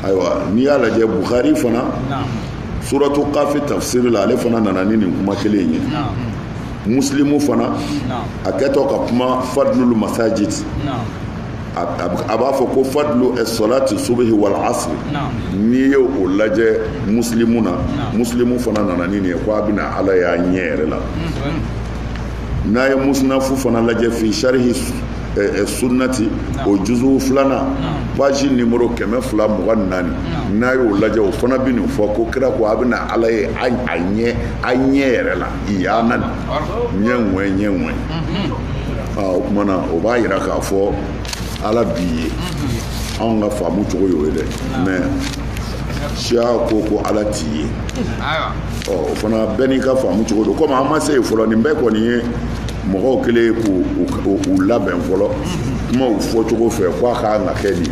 ayiwa n'i y'a lajɛ bukari fana suratu kafi tafsiri la ale fana nana ni nin kuma kelen ye muslimu fana a kɛtɔ ka kuma fadlul masajid a b'a fɔ ko fadlu salati subhi wal asr n'i ye o lajɛ muslimu na muslimu fana nana ni nin ye ko a bɛna ala y'a ɲɛ yɛrɛ la n'a ye musnafu fana lajɛ fi sharhi sunnati o juzu filanan page numéro kɛmɛ fila mugan naani n'a y'o lajɛ o fana bɛ nin fɔ ko kira ko a bɛna ala ye a ɲɛ a ɲɛ yɛrɛ la iyanan ɲɛ ŋɛ ɲɛ ŋɛ o kuma na o b'a yira k'a fɔ ala bi ye anw ka faamu cogo y'o ye dɛ mais siya ko ko ala ti ye ɔ o fana bɛɛ n'i ka faamu cogo don komi an ma se yen fɔlɔ nin bɛɛ kɔni ye mɔgɔw kɛlen ye k'u labɛn fɔlɔ kumaw fɔcogo fɛ ko a kan ka kɛ nin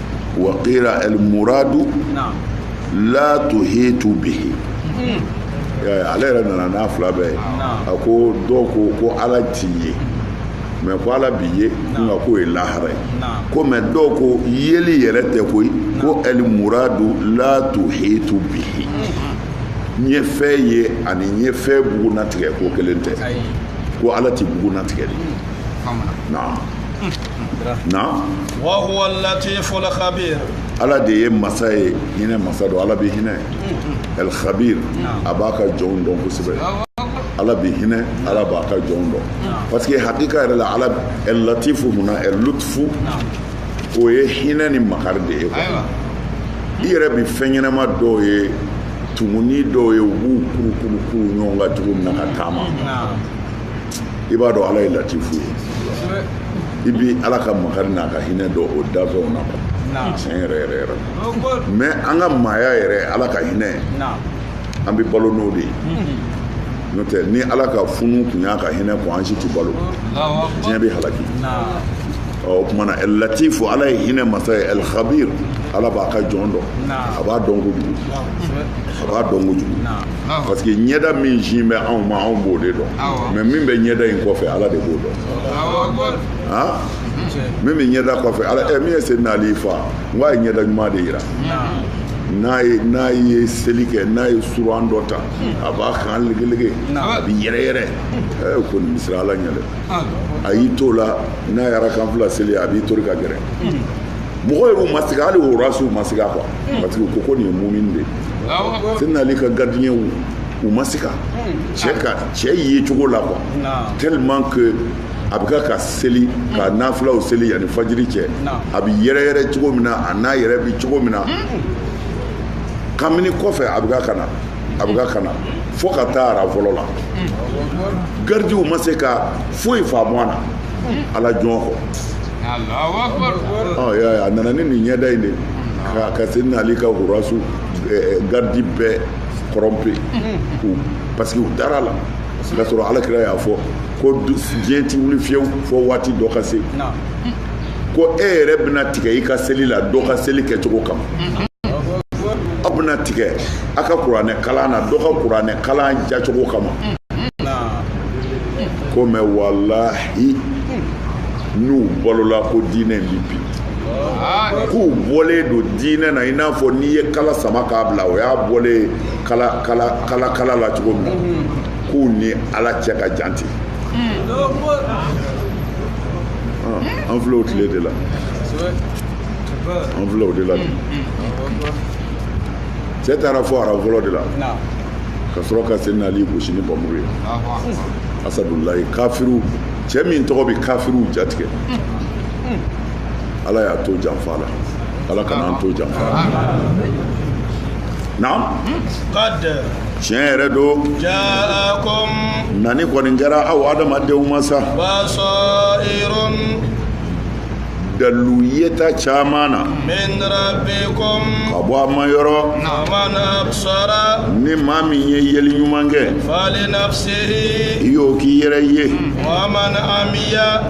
wa kila elmuradu la tuhitu bihi ale yɛrɛ nana n'a fila bɛɛ ye a ko dɔw ko ko ala ti ye mais ko ala bi ye nka k'o ye lahara ye ko mais dɔw ko yeli yɛrɛ tɛ koyi ko elmuradu la tuhitu bihi n ye fɛn ye ani n ye fɛn bugunnatigɛ ko kelen tɛ ko ala tɛ bugunnatigɛ de naam na wahuwa latifu lkhabir ala de ye masa ye hinɛ masa don ala bɛ hinɛ el khabir a b'a ka jɔnw dɔn kosɛbɛ ala bɛ hinɛ ala b'a ka jɔnw dɔn parce que hakika yɛrɛ la ala el latifu mun na el lutfu o ye hinɛ ni makari de ye quoi i yɛrɛ bɛ fɛn ɲɛnama dɔw ye tumuni dɔw ye u b'u kurukuru kuru ɲɔgɔn kan cogo min na ka taama i b'a dɔn ala ye latifu ye i bi ala ka makari n'a ka hinɛ dɔn o dafɛnw na quoi tiɲɛ yɛrɛ yɛrɛ yɛrɛ mais an ka maaya yɛrɛ ala ka hinɛ an bɛ balo n'o de ye n'o tɛ ni ala ka funu kun y'a ka hinɛ kɔn an si tɛ balo diɲɛ bɛ halaki o kuma na el latifu ala ye hinɛ masa ye el khabir ala b'a ka jɔn dɔn a b'a dɔn kojugu a b'a dɔn kojugu parce que ɲɛda min sin bɛ anw ma anw b'o de dɔn mais min bɛ ɲɛda in kɔfɛ ala de b'o dɔn min bɛ ɲɛda kɔfɛ ala ɛ min ye Seydina Ali faa n ko a ye ɲɛda ɲuman de yira n'a ye n'a ye seli kɛ n'a ye suran dɔ ta a b'a kan legelege a bɛ yɛrɛyɛrɛ ɛ ko nin bi siran ala ɲɛ dɛ a y'i t'o la n'a ye raka fila seli a b'i tori ka gɛrɛ mɔgɔ yɛrɛ ma sigi hali o rasiw ma sigi a kɔ parce que ko ko nin ye mumini de ye seyidina ali ka garidiɲɛw u ma siga cɛ cɛ ye cogo la quoi tellement que a bɛ ka ka seli ka nafilaw seli yanni fajiri cɛ a bɛ yɛrɛyɛrɛ cogo min na a n'a yɛrɛ bɛ cogo min na kamini kɔfɛ a bɛ ka ka na a bɛ ka ka na fo ka taa aran fɔlɔ la garidiw ma se ka foyi faamu a na ala jɔn kɔ a nana ni nin ɲɛda in de ka ka seyidina ali ka hurasu eh, garidi bɛɛ kɔrɔnpe parce que u dara a la k'a sɔrɔ alakira y'a fɔ ko du- diɲɛ ti wuli fiyewu fo waati dɔ ka se ko e yɛrɛ bɛna tigɛ i ka seli la dɔ ka seli kɛcogo kama aw bɛna tigɛ a ka kuranɛ kalan na dɔ ka kuranɛ kalan jacogo kama ko mais walahi n'u balola ko diinɛ in bi bi k'u bɔlen don diinɛ na i n'a fɔ n'i ye kala sama k'a bila o y'a bɔlen kala la cogo min na k'u ni ala cɛ ka jan ten an filɛ o tile de la an filɛ o de la bi cɛ taara fo aran fɔlɔ de la ka sɔrɔ ka seyidina ali gosi ni bamuru ye asadulayi kafiri cɛ min tɔgɔ bɛ kafiriw jatigɛ ala y'a to janfa la ala kana an to janfa la naam tiɲɛ yɛrɛ don nani kɔni kɛra aw adamadenw ma sa dalu yeta caman na ka bɔ a ma yɔrɔ ni maa min ye yeli ɲuman kɛ i y'o k'i yɛrɛ ye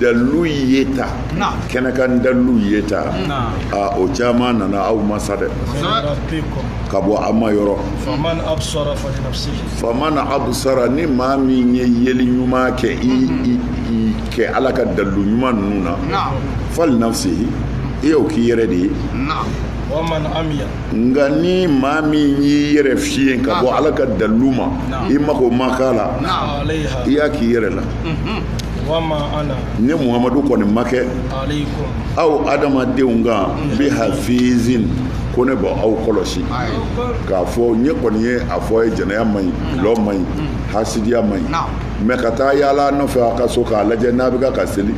dalu yeta kɛnɛ kan dalu yeta o caman nana aw ma sa dɛ ka bɔ aw ma yɔrɔ faman absara ni maa min ye yeli ɲuman kɛ i kɛ ala ka dalu ɲuman ninnu na fali nafsihi i y'o k'i yɛrɛ de ye nga ni maa min y'i yɛrɛ fiyen ka bɔ ala ka dalu ma i mako ma k'a la i y'a k'i yɛrɛ la ne muhamadu kɔni ma kɛ aw adamadenw kan bi hafizin ko ne b'aw kɔlɔsi k'a fɔ ne kɔni ye a fɔ ye jɛnɛya man ɲi dɔlɔ man ɲi hasidiya man ɲi mais ka taa yaala nɔfɛ a ka so k'a lajɛ n'a bɛ ka seli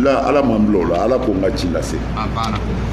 la ala ma n bila o la ala ko n ka ci lase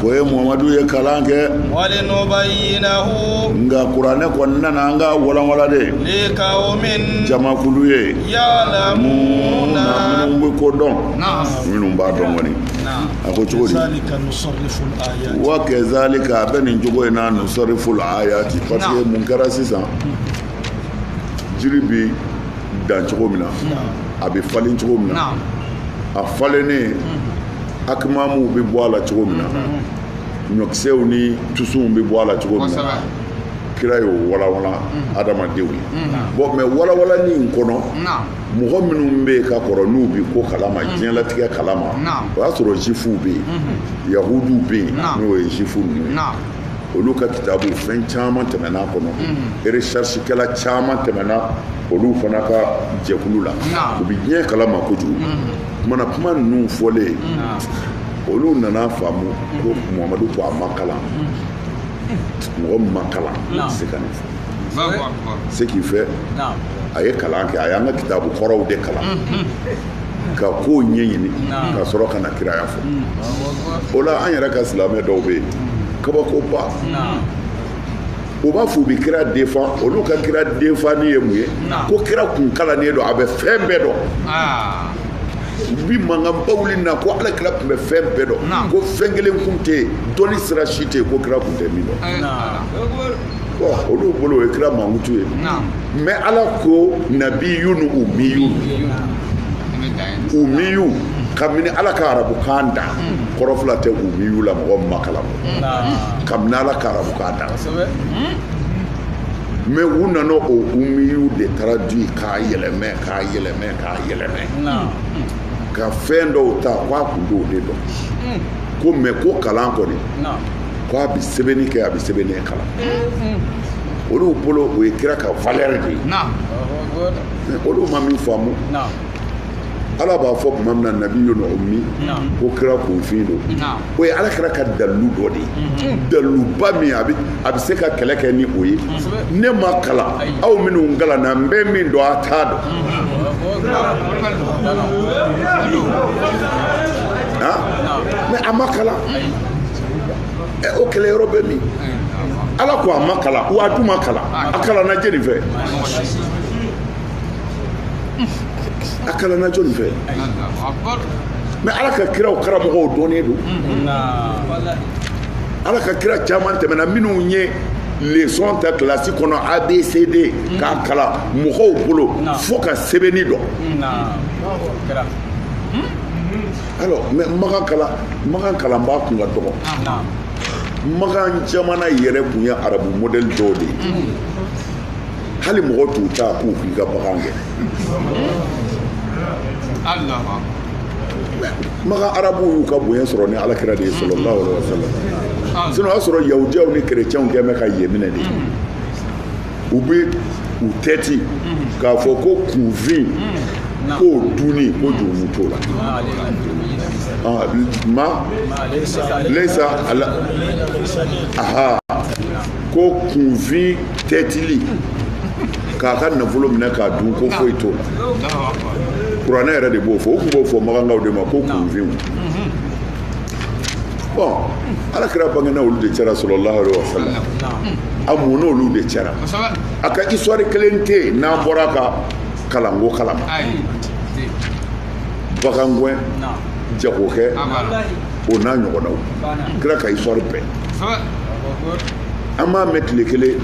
ko e muhamadu ye kalan kɛ walinubayyinahu nka kuranɛ kɔni nana an k'a walawalan de liqawmin jamakulu ye ya'lamuna minnu bɛ ko dɔn minnu b'a dɔn kɔni a ko cogo di wa kazalika a bɛ nin cogo in na nusarrifu l-ayati parce que mun kɛra sisan jiri bi dan cogo min na a bɛ falen cogo min na a falennen Akimamuw bɛ bɔ a la cogo min na ɲɔkisɛw ni tusunw bɛ bɔ a la cogo min na kira y'o walawalan adamadenw ye bon mais walawalanni in kɔnɔ mɔgɔ minnu bɛ yen ka kɔrɔ n'u bɛ ko kalama diɲɛlatigɛ kalama o y'a sɔrɔ juwifuw bɛ yen yahudiw bɛ yen n'o ye juwifu ninnu ye olu ka kitabu fɛn caman tɛmɛna a kɔnɔ recherchekɛla caman tɛmɛna olu fana ka jɛkulu la u bɛ diɲɛ kalama kojugu kuma na kuma ninnu fɔlen olu nana faamu ko muhamadu ko a ma kalan mɔgɔ min ma kalan tɛ se ka nin fɔ ce qui fait a ye kalan kɛ a y'an ka kitabu kɔrɔw de kalan ka kow ɲɛɲini ka sɔrɔ ka na kiraya fɔ o la an yɛrɛ ka silamɛ dɔw bɛ yen kabakoba u b'a fɔ u bɛ kira defan olu ka kira defanni ye mun ye ko kira kun kalannen don a bɛ fɛn bɛɛ dɔn ah. u bi mankanba wuli na ko ala kira tun bɛ fɛn bɛɛ dɔn ko fɛn kelen kun tɛ yen dɔnni sira si tɛ yen ko kira kun tɛ min dɔn eh, olu bolo o ye kira mankutu ye mais ala ko nabiyun umiyun umiyun kabini ala ka arabukan da hmm. kɔrɔ fila tɛ umiyu la mɔgɔ min ma kalan kabini ala ka arabukan da mais u nana o umiyu de traduit k'a yɛlɛmɛ k'a yɛlɛmɛ k'a yɛlɛmɛ ka fɛn dɔw ta k'a kun b'o de dɔn mm. ko mais ko kalan kɔni ko a bɛ sɛbɛnni kɛ a bɛ sɛbɛnni kalan mm-hmm. olu bolo o ye kira ka valeur de ye olu ma min faamu ala b'a fɔ tuma min na nabiyun umi ko kira kunfin don o ye ala kira ka dalilu dɔ de ye mhm. daliluba min a bɛ se ka kɛlɛ kɛ ni o ye ne ma kalan aw minnu kalanna n bɛ min dɔn a t'a dɔn mais a ma kalan o kɛlɛ yɔrɔ bɛ min ala ko a ma kalan wa a dun ma kalan a kalanna jɛni fɛ a kalanna jɔni fɛ mɛ ala ka kiraw karamɔgɔw dɔnnen don ala ka kira caman tɛmɛna minnu ye lesɔn ta kilasi kɔnɔ abcd k'a kalan mɔgɔw bolo fo ka sɛbɛnni dɔn alors mɛ makan kalanbaa kun ka dɔgɔ makan jamana yɛrɛ kun ye arabu modɛli dɔw de ye hali mɔgɔ t'u ta k'u k'i ka bagan gɛn makan arabu y'u ka bonya sɔrɔ ni alakira de ye sallallahu alaihi wa sallam ah. sinon o y'a sɔrɔ yahudiyaw ni kerecɛnw kɛ bɛ ka yen minɛ de mm-hmm. u bɛ u tɛti mm-hmm. k'a fɔ ko kunfin mm-hmm. k'o dunni ko jurumu t'o la ah, ma laisa ala aha ko kunfin tɛtili k'a ka nafolo minɛ k'a dun ko foyi t'o la kuranɛ yɛrɛ de b'o fɔ u tun b'o fɔ makankaw de ma ko kunfinw bon ala kira bangena olu de cɛra sallallahu alaihi wasallam a mɔna olu de cɛra a ka histoire kelen tɛ yen n'an bɔra a ka kalanko kalama bagangwɛn jagokɛ o n'a ɲɔgɔnnaw kira ka histoire bɛɛ an m'a mɛn tile kelen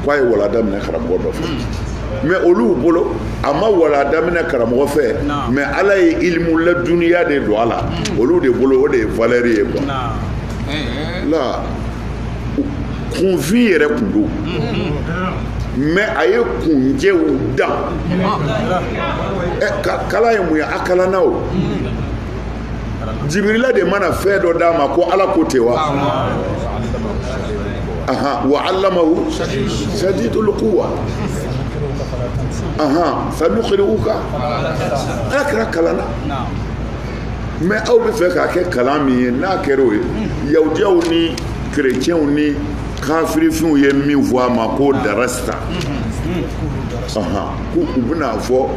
k'a ye walanda minɛ karamɔgɔ dɔ fɛ hmm. mɛ olu bolo a ma walanda minɛ karamɔgɔ fɛ mɛ ala ye ilimu laduniya de don a la hmm. olu de bolo o de ye valɛri ye kuwa eh, eh. la kunfin yɛrɛ kun don hmm. mɛ a ye kunjɛw dan eh, kalan ye mun ye a kalanna o jibirila de mana fɛn dɔ d'a ma ko ala ko ten wa aha wa allamahu shadidul quwa aha sanuqri'uka ala kira kalanna mɛ aw bɛ fɛ k'a kɛ kalan min ye n'a kɛra o ye yahudiyaw ni kerecɛnw ni kafirifinw ye min fɔ a ma ko darasta k'u bɛna fɔ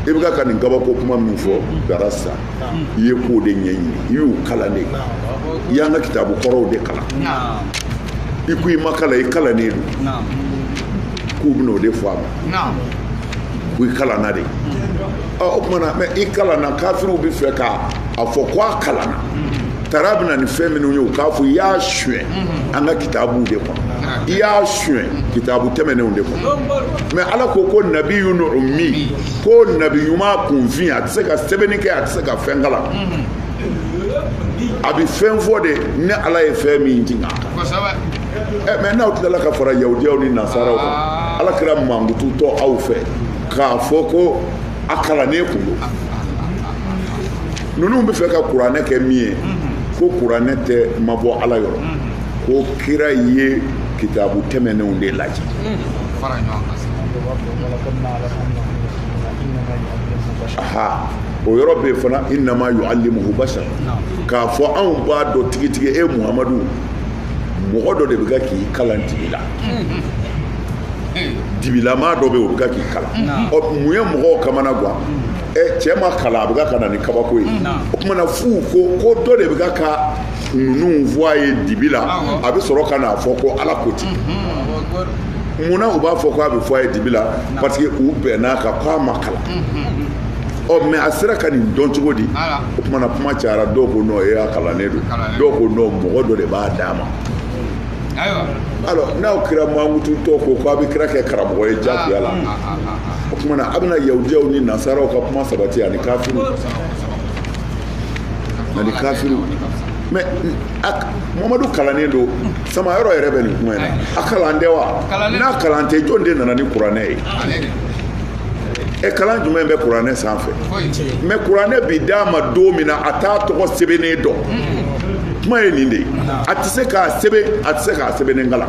i bɛ ka nin kabako kuma min fɔ darasta i ye kow de ɲɛɲini i y'u kalan de i y'an ka kitabu kɔrɔw de kalan i ko i ma kalan i kalannen don k'u bɛn'o de fɔ a ma ko i kalanna de o tuma na mɛ i kalanna kafiriw bɛ fɛ ka a fɔ ko a kalanna tara bɛ na ni fɛn minnu ye u k'a fɔ i y'a suɲɛ an ka kitabuw de kɔnɔ i y'a suɲɛ kitabu tɛmɛnenw de kɔnɔ mɛ ala ko ko nabiyun ummi ko nabi ɲuman kunfin a tɛ se ka sɛbɛnni kɛ a tɛ se ka fɛn kalan a bɛ fɛn fɔ de ni ala ye fɛn min jigin a kan ɛ mɛ n'aw tilala ka fara yahudiyaw ni nasaraw kan ah. ala kira mankututɔ aw fɛ k'a fɔ ko a kalannen kun don ninnu bɛ fɛ ka kuranɛ kɛ min ye ko kuranɛ tɛ ma bɔ ala yɔrɔ ko kira ye kitabu tɛmɛnenw de lajɛ aha o yɔrɔ bɛ fana innama yu'alimuhu basar k'a fɔ anw b'a dɔn tigitigi e muhamadu mɔgɔ dɔ de bɛ ka k'i kalan dibi la dibilama dɔ bɛ o bɛ ka k'i kalan ɔ mun ye mɔgɔw kamana gan ɛ cɛ ma kalan a bɛ ka ka na ni kabako ye o kuma na f'u ko ko dɔ de bɛ ka ka ninnu fɔ a ye dibi la a bɛ sɔrɔ ka n'a fɔ ko ala ko ten munna u b'a fɔ ko a bɛ fɔ a ye dibi la parce que u bɛnn'a kan ko a ma kalan ɔ mais a sera ka nin dɔn cogo di o kuma na kuma cayara dɔw ko non ɛ a kalannen don dɔw ko non mɔgɔ dɔ de b'a d'a ma alors n'aw kira mankututɔ ko k'a bɛ kira kɛ karamɔgɔ ye jagoya la o kuma na a bɛna yahudiyaw ni nasaraw ka kuma sabati ani kafiriw ani kafiriw mais mamadu kalannen don samayɔrɔ yɛrɛ bɛ nin kuma in na a kalan tɛ wa n'a kalan tɛ jɔn de nana ni kuranɛ ye ɛ kalan jumɛn bɛ kuranɛ sanfɛ mais kuranɛ bi d'a ma don min na a t'a tɔgɔ sɛbɛnnen dɔn kuma ye nin de ye a tɛ se k'a sɛbɛn a tɛ se k'a sɛbɛnnen kalan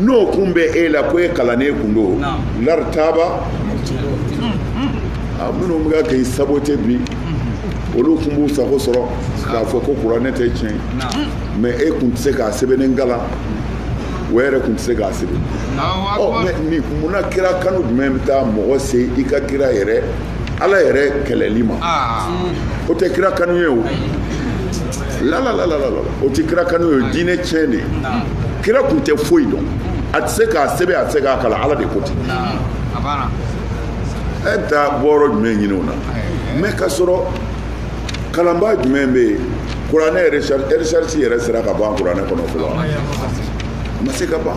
n'o kun bɛ e la ko e kalannen kun don lartaba a minnu bɛ ka k'i saboter bi olu kun b'u sago sɔrɔ k'a fɔ ko kuranɛ tɛ tiɲɛ mais e kun tɛ se k'a sɛbɛnnen kalan o yɛrɛ kun tɛ se k'a sɛbɛn mais munna kira kanu jumɛn bɛ taa mɔgɔ se i ka kira yɛrɛ ala yɛrɛ kɛlɛli ma o tɛ kira kanu ye o lalalalalalala o tɛ kira kanu ye diinɛ tiɲɛ de ye kira kun tɛ foyi dɔn a tɛ se k'a sɛbɛn a tɛ se k'a kalan ala de ko ten e taa bɔyɔrɔ jumɛn ɲini o na mɛ ka sɔrɔ kalanba jumɛn bɛ yen kuranɛ ɛrisarisi yɛrɛ sera ka ban kuranɛ kɔnɔ fɔlɔ ma se ka ban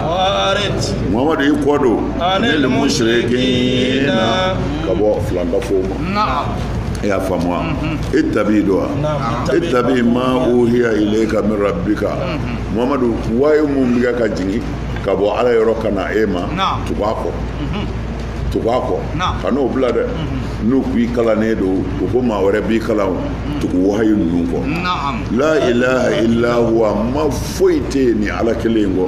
mamadu i kɔ don anil mushrikina ka bɔ filankafow ma e y'a faamu wa ittabi don wa ittabi ma uhiya ilayka min rabbika mamadu wahayi min bɛ ka jigin ka bɔ ala yɔrɔ ka na e ma tugu a kɔ tugu a kɔ kan'o bila dɛ n'u k'i kalannen don u ko maa wɛrɛ b'i kalan tugu wahayi ninnu kɔ la ilaha illa huwa ma foyi tɛ yen ni ala kelen in kɔ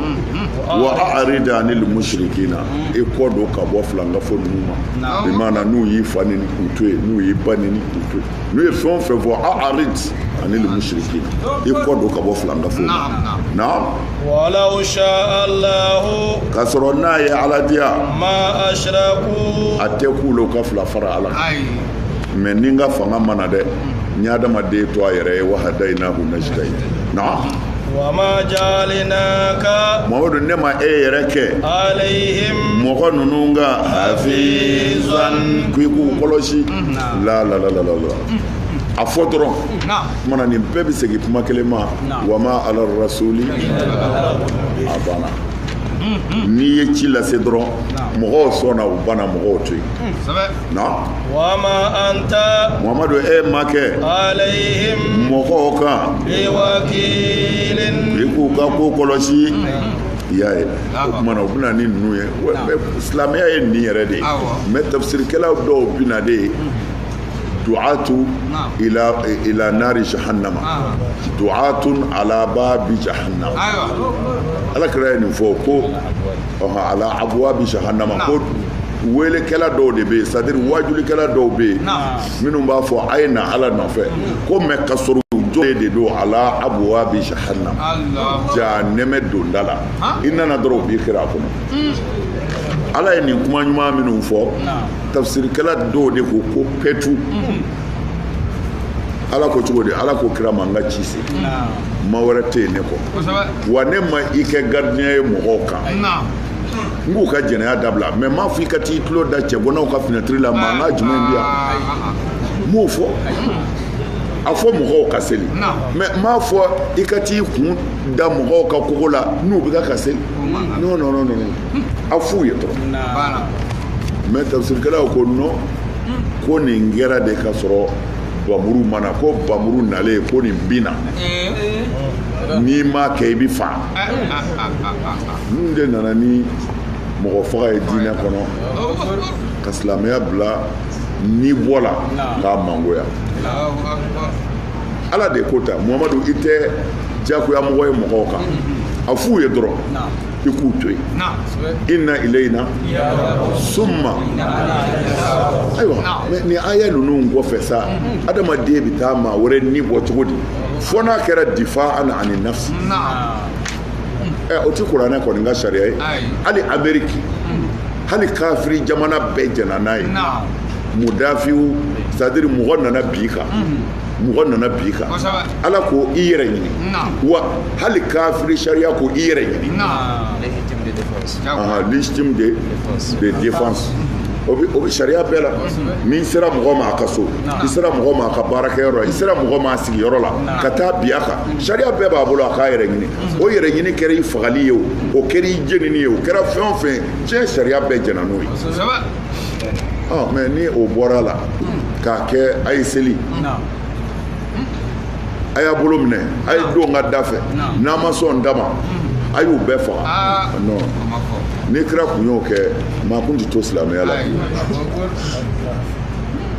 wa a'rid anil mushrikina i kɔ don ka bɔ filankafo ninnu ma bi maana n'u y'i fa neni k'u to yen n'u y'i ba neni k'u to yen n'u ye fɛn o fɛn fɔ a'rid anil mushrikina i kɔ don ka bɔ filankafo ma na ka sɔrɔ n'a ye ala diya ma a tɛ k'u ka fila fara ala mais ni n ka fanga ma na dɛ n ye adamaden to a yɛrɛ ye wa hadaynahu najdayni na wa ma ja'alnaka muhammadu ne ma e yɛrɛ kɛ alayhim mɔgɔ ninnu ka hafizan k'i k'u kɔlɔsi mm-hmm. la la la la la mm-hmm. a fɔ dɔrɔn maana nin bɛɛ bɛ segin kuma kelen ma wa ma ala rasuli a banna mm-hmm. n'i ye ci lase dɔrɔn mɔgɔw sɔnna u banna mɔgɔw to yen mm, na wa ma anta muhammadu e ma kɛ alayhim mɔgɔw kan biwakilin i k'u ka ko kɔlɔsi i y'a ye o kuma na u bɛ na ni ninnu ye silamɛya ye nin yɛrɛ de ye mais tafsirikɛlaw dɔw bɛ na de du'atu ila nari jahannama du'atun ala babi jahannama ala kira ye nin fɔ ko ala abwabi jahannama ko weelekɛla dɔw de bɛ yen c'est-à-dire waajulikɛla dɔw bɛ yen minnu b'a fɔ a ye na ala nɔfɛ ko mais ka sɔrɔ jɔlen de don ala abwabi jahannam jahanɛmɛ donda la i nana dɔrɔn u b'i kira a kɔnɔ hmm. ala ye nin kuma ɲuman minnu fɔ tafsirikɛla dɔw de ko ko pɛtu hmm. ala ko cogo di ala ko kira ma n ka ci se maa wɛrɛ tɛ yen ne kɔ wa ne ma i kɛ gardien ye mɔgɔw kan n k'u ka jɛnɛya dabila mais m'a fɔ i ka t'i tulo da cɛganaw ka finɛtiri la mankan jumɛn bi yan n m'o fɔ a fɔ mɔgɔw ka seli mais n m'a fɔ i ka t'i kun da mɔgɔw ka kogo la n'u bɛ ka ka seli non non non non a f'u ye dɔrɔn mais tafsirikɛlaw ko non ko nin kɛra de ka sɔrɔ bamuru ma na ko bamuru nalen ko nin binna n'i m'a kɛ i bɛ fa ninnu de nana ni mɔgɔ faga ye diinɛ kɔnɔ ka silamɛya bila ni bɔ la k'a mangoya ala de ko ta muhammadu i tɛ jagoya mɔgɔ ye mɔgɔw kan a f'u ye dɔrɔn i k'u to yen inna ilayna summa ayiwa nin aya ninnu kɔfɛ sa adamaden bɛ taa maa wɛrɛ ni bɔ cogo di fo n'a kɛra difa'an ani nafsi o tɛ kuranɛ kɔni ka sariya ye hali ameriki hali kafiri jamana bɛɛ jɛnna n'a ye mudafiw c'est à dire mɔgɔ nana bi kan mɔgɔ nana bi kan ala ko i yɛrɛ ɲini wa hali kafiri sariya ko i yɛrɛ ɲini légitime de de défense o bɛ o bɛ sariya bɛɛ la n'i sera mɔgɔ ma a ka so i sera mɔgɔ ma a ka baarakɛyɔrɔ la i sera mɔgɔ ma a sigiyɔrɔ la ka taa bin a kan sariya bɛɛ b'a bolo a k'a yɛrɛ ɲini o yɛrɛ ɲini kɛra i fagali ye o o kɛra i jenini ye o kɛra fɛn o fɛn diɲɛ sariya bɛɛ jɛnna n'o ye ah, mais ni o bɔra la k'a kɛ a ye seli a y'a bolo minɛ a ye don ka da fɛ n'a ma sɔn dama a y'u bɛɛ faga ah. non ni kira kun y'o kɛ maa kun tɛ to silamɛya la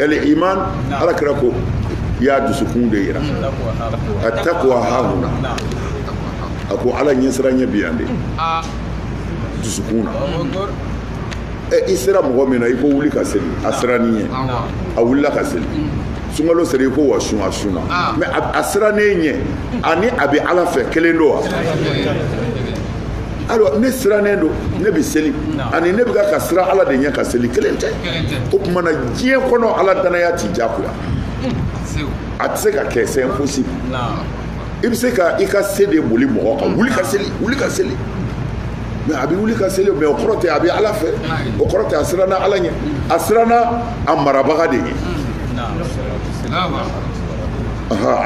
al iman ala kira ko y'a dusukun de yira a takwa hahuna a ko ala ɲɛsiranɲɛ bi yan de dusukun na e i sera mɔgɔ min na i ko wuli ka seli a siranna i ɲɛ a wulila ka seli sunkalo sera i ko wa sun a sunna mais a siranna e ɲɛ ani a bɛ ala fɛ kelen don wa alors ne sirannen don ne bɛ seli ani ne bɛ ka ka siran ala de ɲɛ ka seli kelen tɛ o tuma na diɲɛ kɔnɔ ala danaya ti jagoya a tɛ se ka kɛ c'est impossible i bɛ se ka i ka se de boli mɔgɔ kan wuli ka seli wuli ka seli mais a bɛ wuli ka seli mais o kɔrɔ tɛ a bɛ ala fɛ o kɔrɔ tɛ a siranna ala ɲɛ a siranna a marabaga de ɲɛ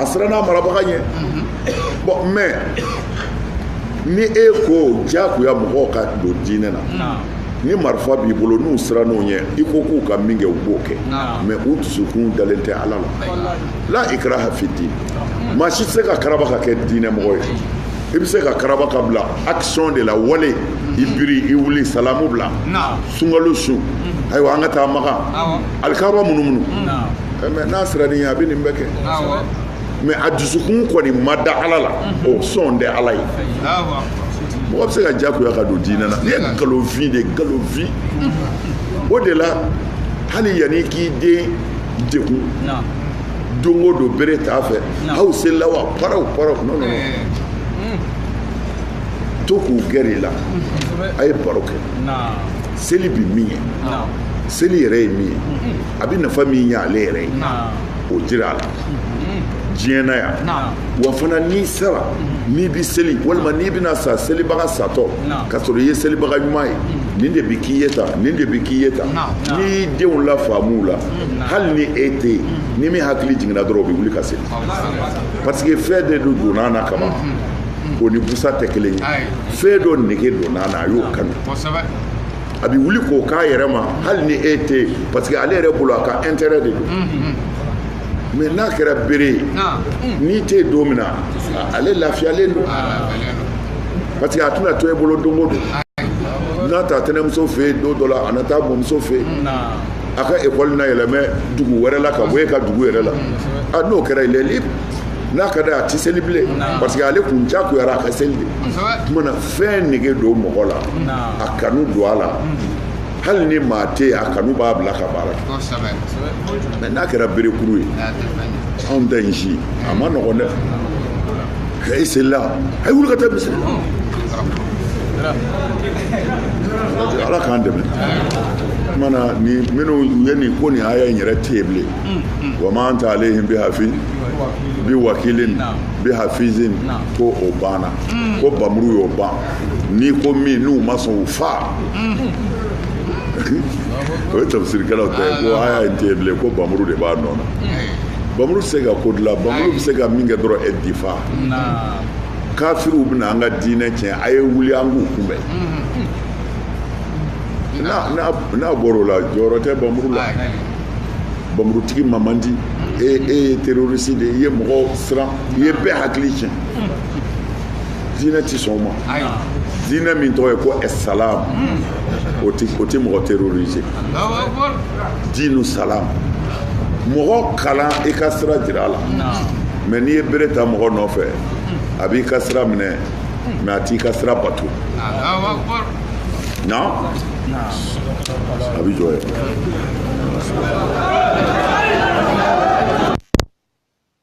a siranna a marabaga ɲɛ bon mais ni e ko diyagoya mɔgɔw ka don diinɛ na ni marifa b'i bolo n'u siranna o ɲɛ i ko k'u ka min kɛ u b'o kɛ mais u dusukun dalen tɛ ala la la ikraha fi din maa si tɛ se ka karaba ka kɛ diinɛ mɔgɔ ye i bɛ se k'a karaba k'a bila action de la wale i biri i wuli salamu bila sunkalo sun ayiwa an ka taa makan alikaba munumunu mais n'a siranna i ɲɛ a bɛ nin bɛɛ kɛ mais a dusukun kɔni ma da ala la o sɔn tɛ ala ye mɔgɔ bɛ se ka jagoya ka don diinɛ na nin ye nkalonfin de nkalonfin o de la hali yanni k'i den degun don o don bere t'a fɛ aw selila wa paraw paraw non non eh. hmm. to k'u gɛrɛ i la a ye baro kɛ seli bi min ɲɛ seli yɛrɛ ye min ye hmm. a bɛ nafa min ɲɛ ale yɛrɛ ye o jira a la diɲɛ na yan wa fana n'i sara n'i bɛ seli walima n'i bɛna sa selibaga satɔ ka sɔrɔ i ye selibaga ɲuman ye nin de bɛ k'i ye tan nin de bɛ k'i ye tan n'i y'i denw lafaamu a la hali ni e tɛ yen ni min hakili jiginna dɔrɔn o bɛ wuli ka seli parce que fɛn de don donna na kaban o ni busa tɛ kelen ye fɛn dɔ nege donna na a y'o kanu a bɛ wuli k'o k'a yɛrɛ ma hali ni e tɛ yen parce que ale yɛrɛ bolo a ka intérêt de don mais n'a kɛra bere ye n'i tɛ yen don min na ale lafiyalen don parce que a tɛna to e bolo don o don a na taa tɛnɛmuso fɛ yen don dɔ la a na taa mɔmuso fɛ yen a ka ekɔli na yɛlɛmɛ dugu wɛrɛ la ka bɔ e ka dugu yɛrɛ la a n'o kɛra il est libre n'a ka d'a ye a tɛ seli bilen parce que ale kun jagoyara a ka seli de. fɛn nege don mɔgɔ la a kanu don a la hali ni maa tɛ yen a kanu b'a bila ka baara kɛ mais n'a kɛra berekuru ye anw tɛ n si a man nɔgɔn dɛ e selila a ye wuli ka taa misiri ala k'an dɛmɛ mana ni minnu ye nin ko nin aya in yɛrɛ tɛ yen bilen wa ma anta alehim bi hafi bi wakilin bi hafizin ko o banna ko bamuru y'o ban n'i ko min n'u ma sɔn u fa o ye tafsirikɛlaw ta ye ko aya in tɛ yen bilen ko bamuru de b'a nɔ na bamuru tɛ se ka ko dilan bamuru bɛ se ka min kɛ dɔrɔn e difa kafiriw bɛna an ka diinɛ tiɲɛ a ye wuli an k'u kunbɛn n'a bɔra o la jɔyɔrɔ tɛ bamuru la bamurutigi man man di e e ye terroriste de ye i ye mɔgɔw siran i ye bɛɛ hakili tiɲɛ diinɛ ti sɔn o ma diinɛ min tɔgɔ ye ko ɛsalam o ti o ti mɔgɔ terroriser diinu salam mɔgɔ kalan i ka sira jira a la mais n'i ye bere ta mɔgɔ nɔfɛ a b'i ka sira minɛ mais a t'i ka sira bato na a bɛ jɔ ye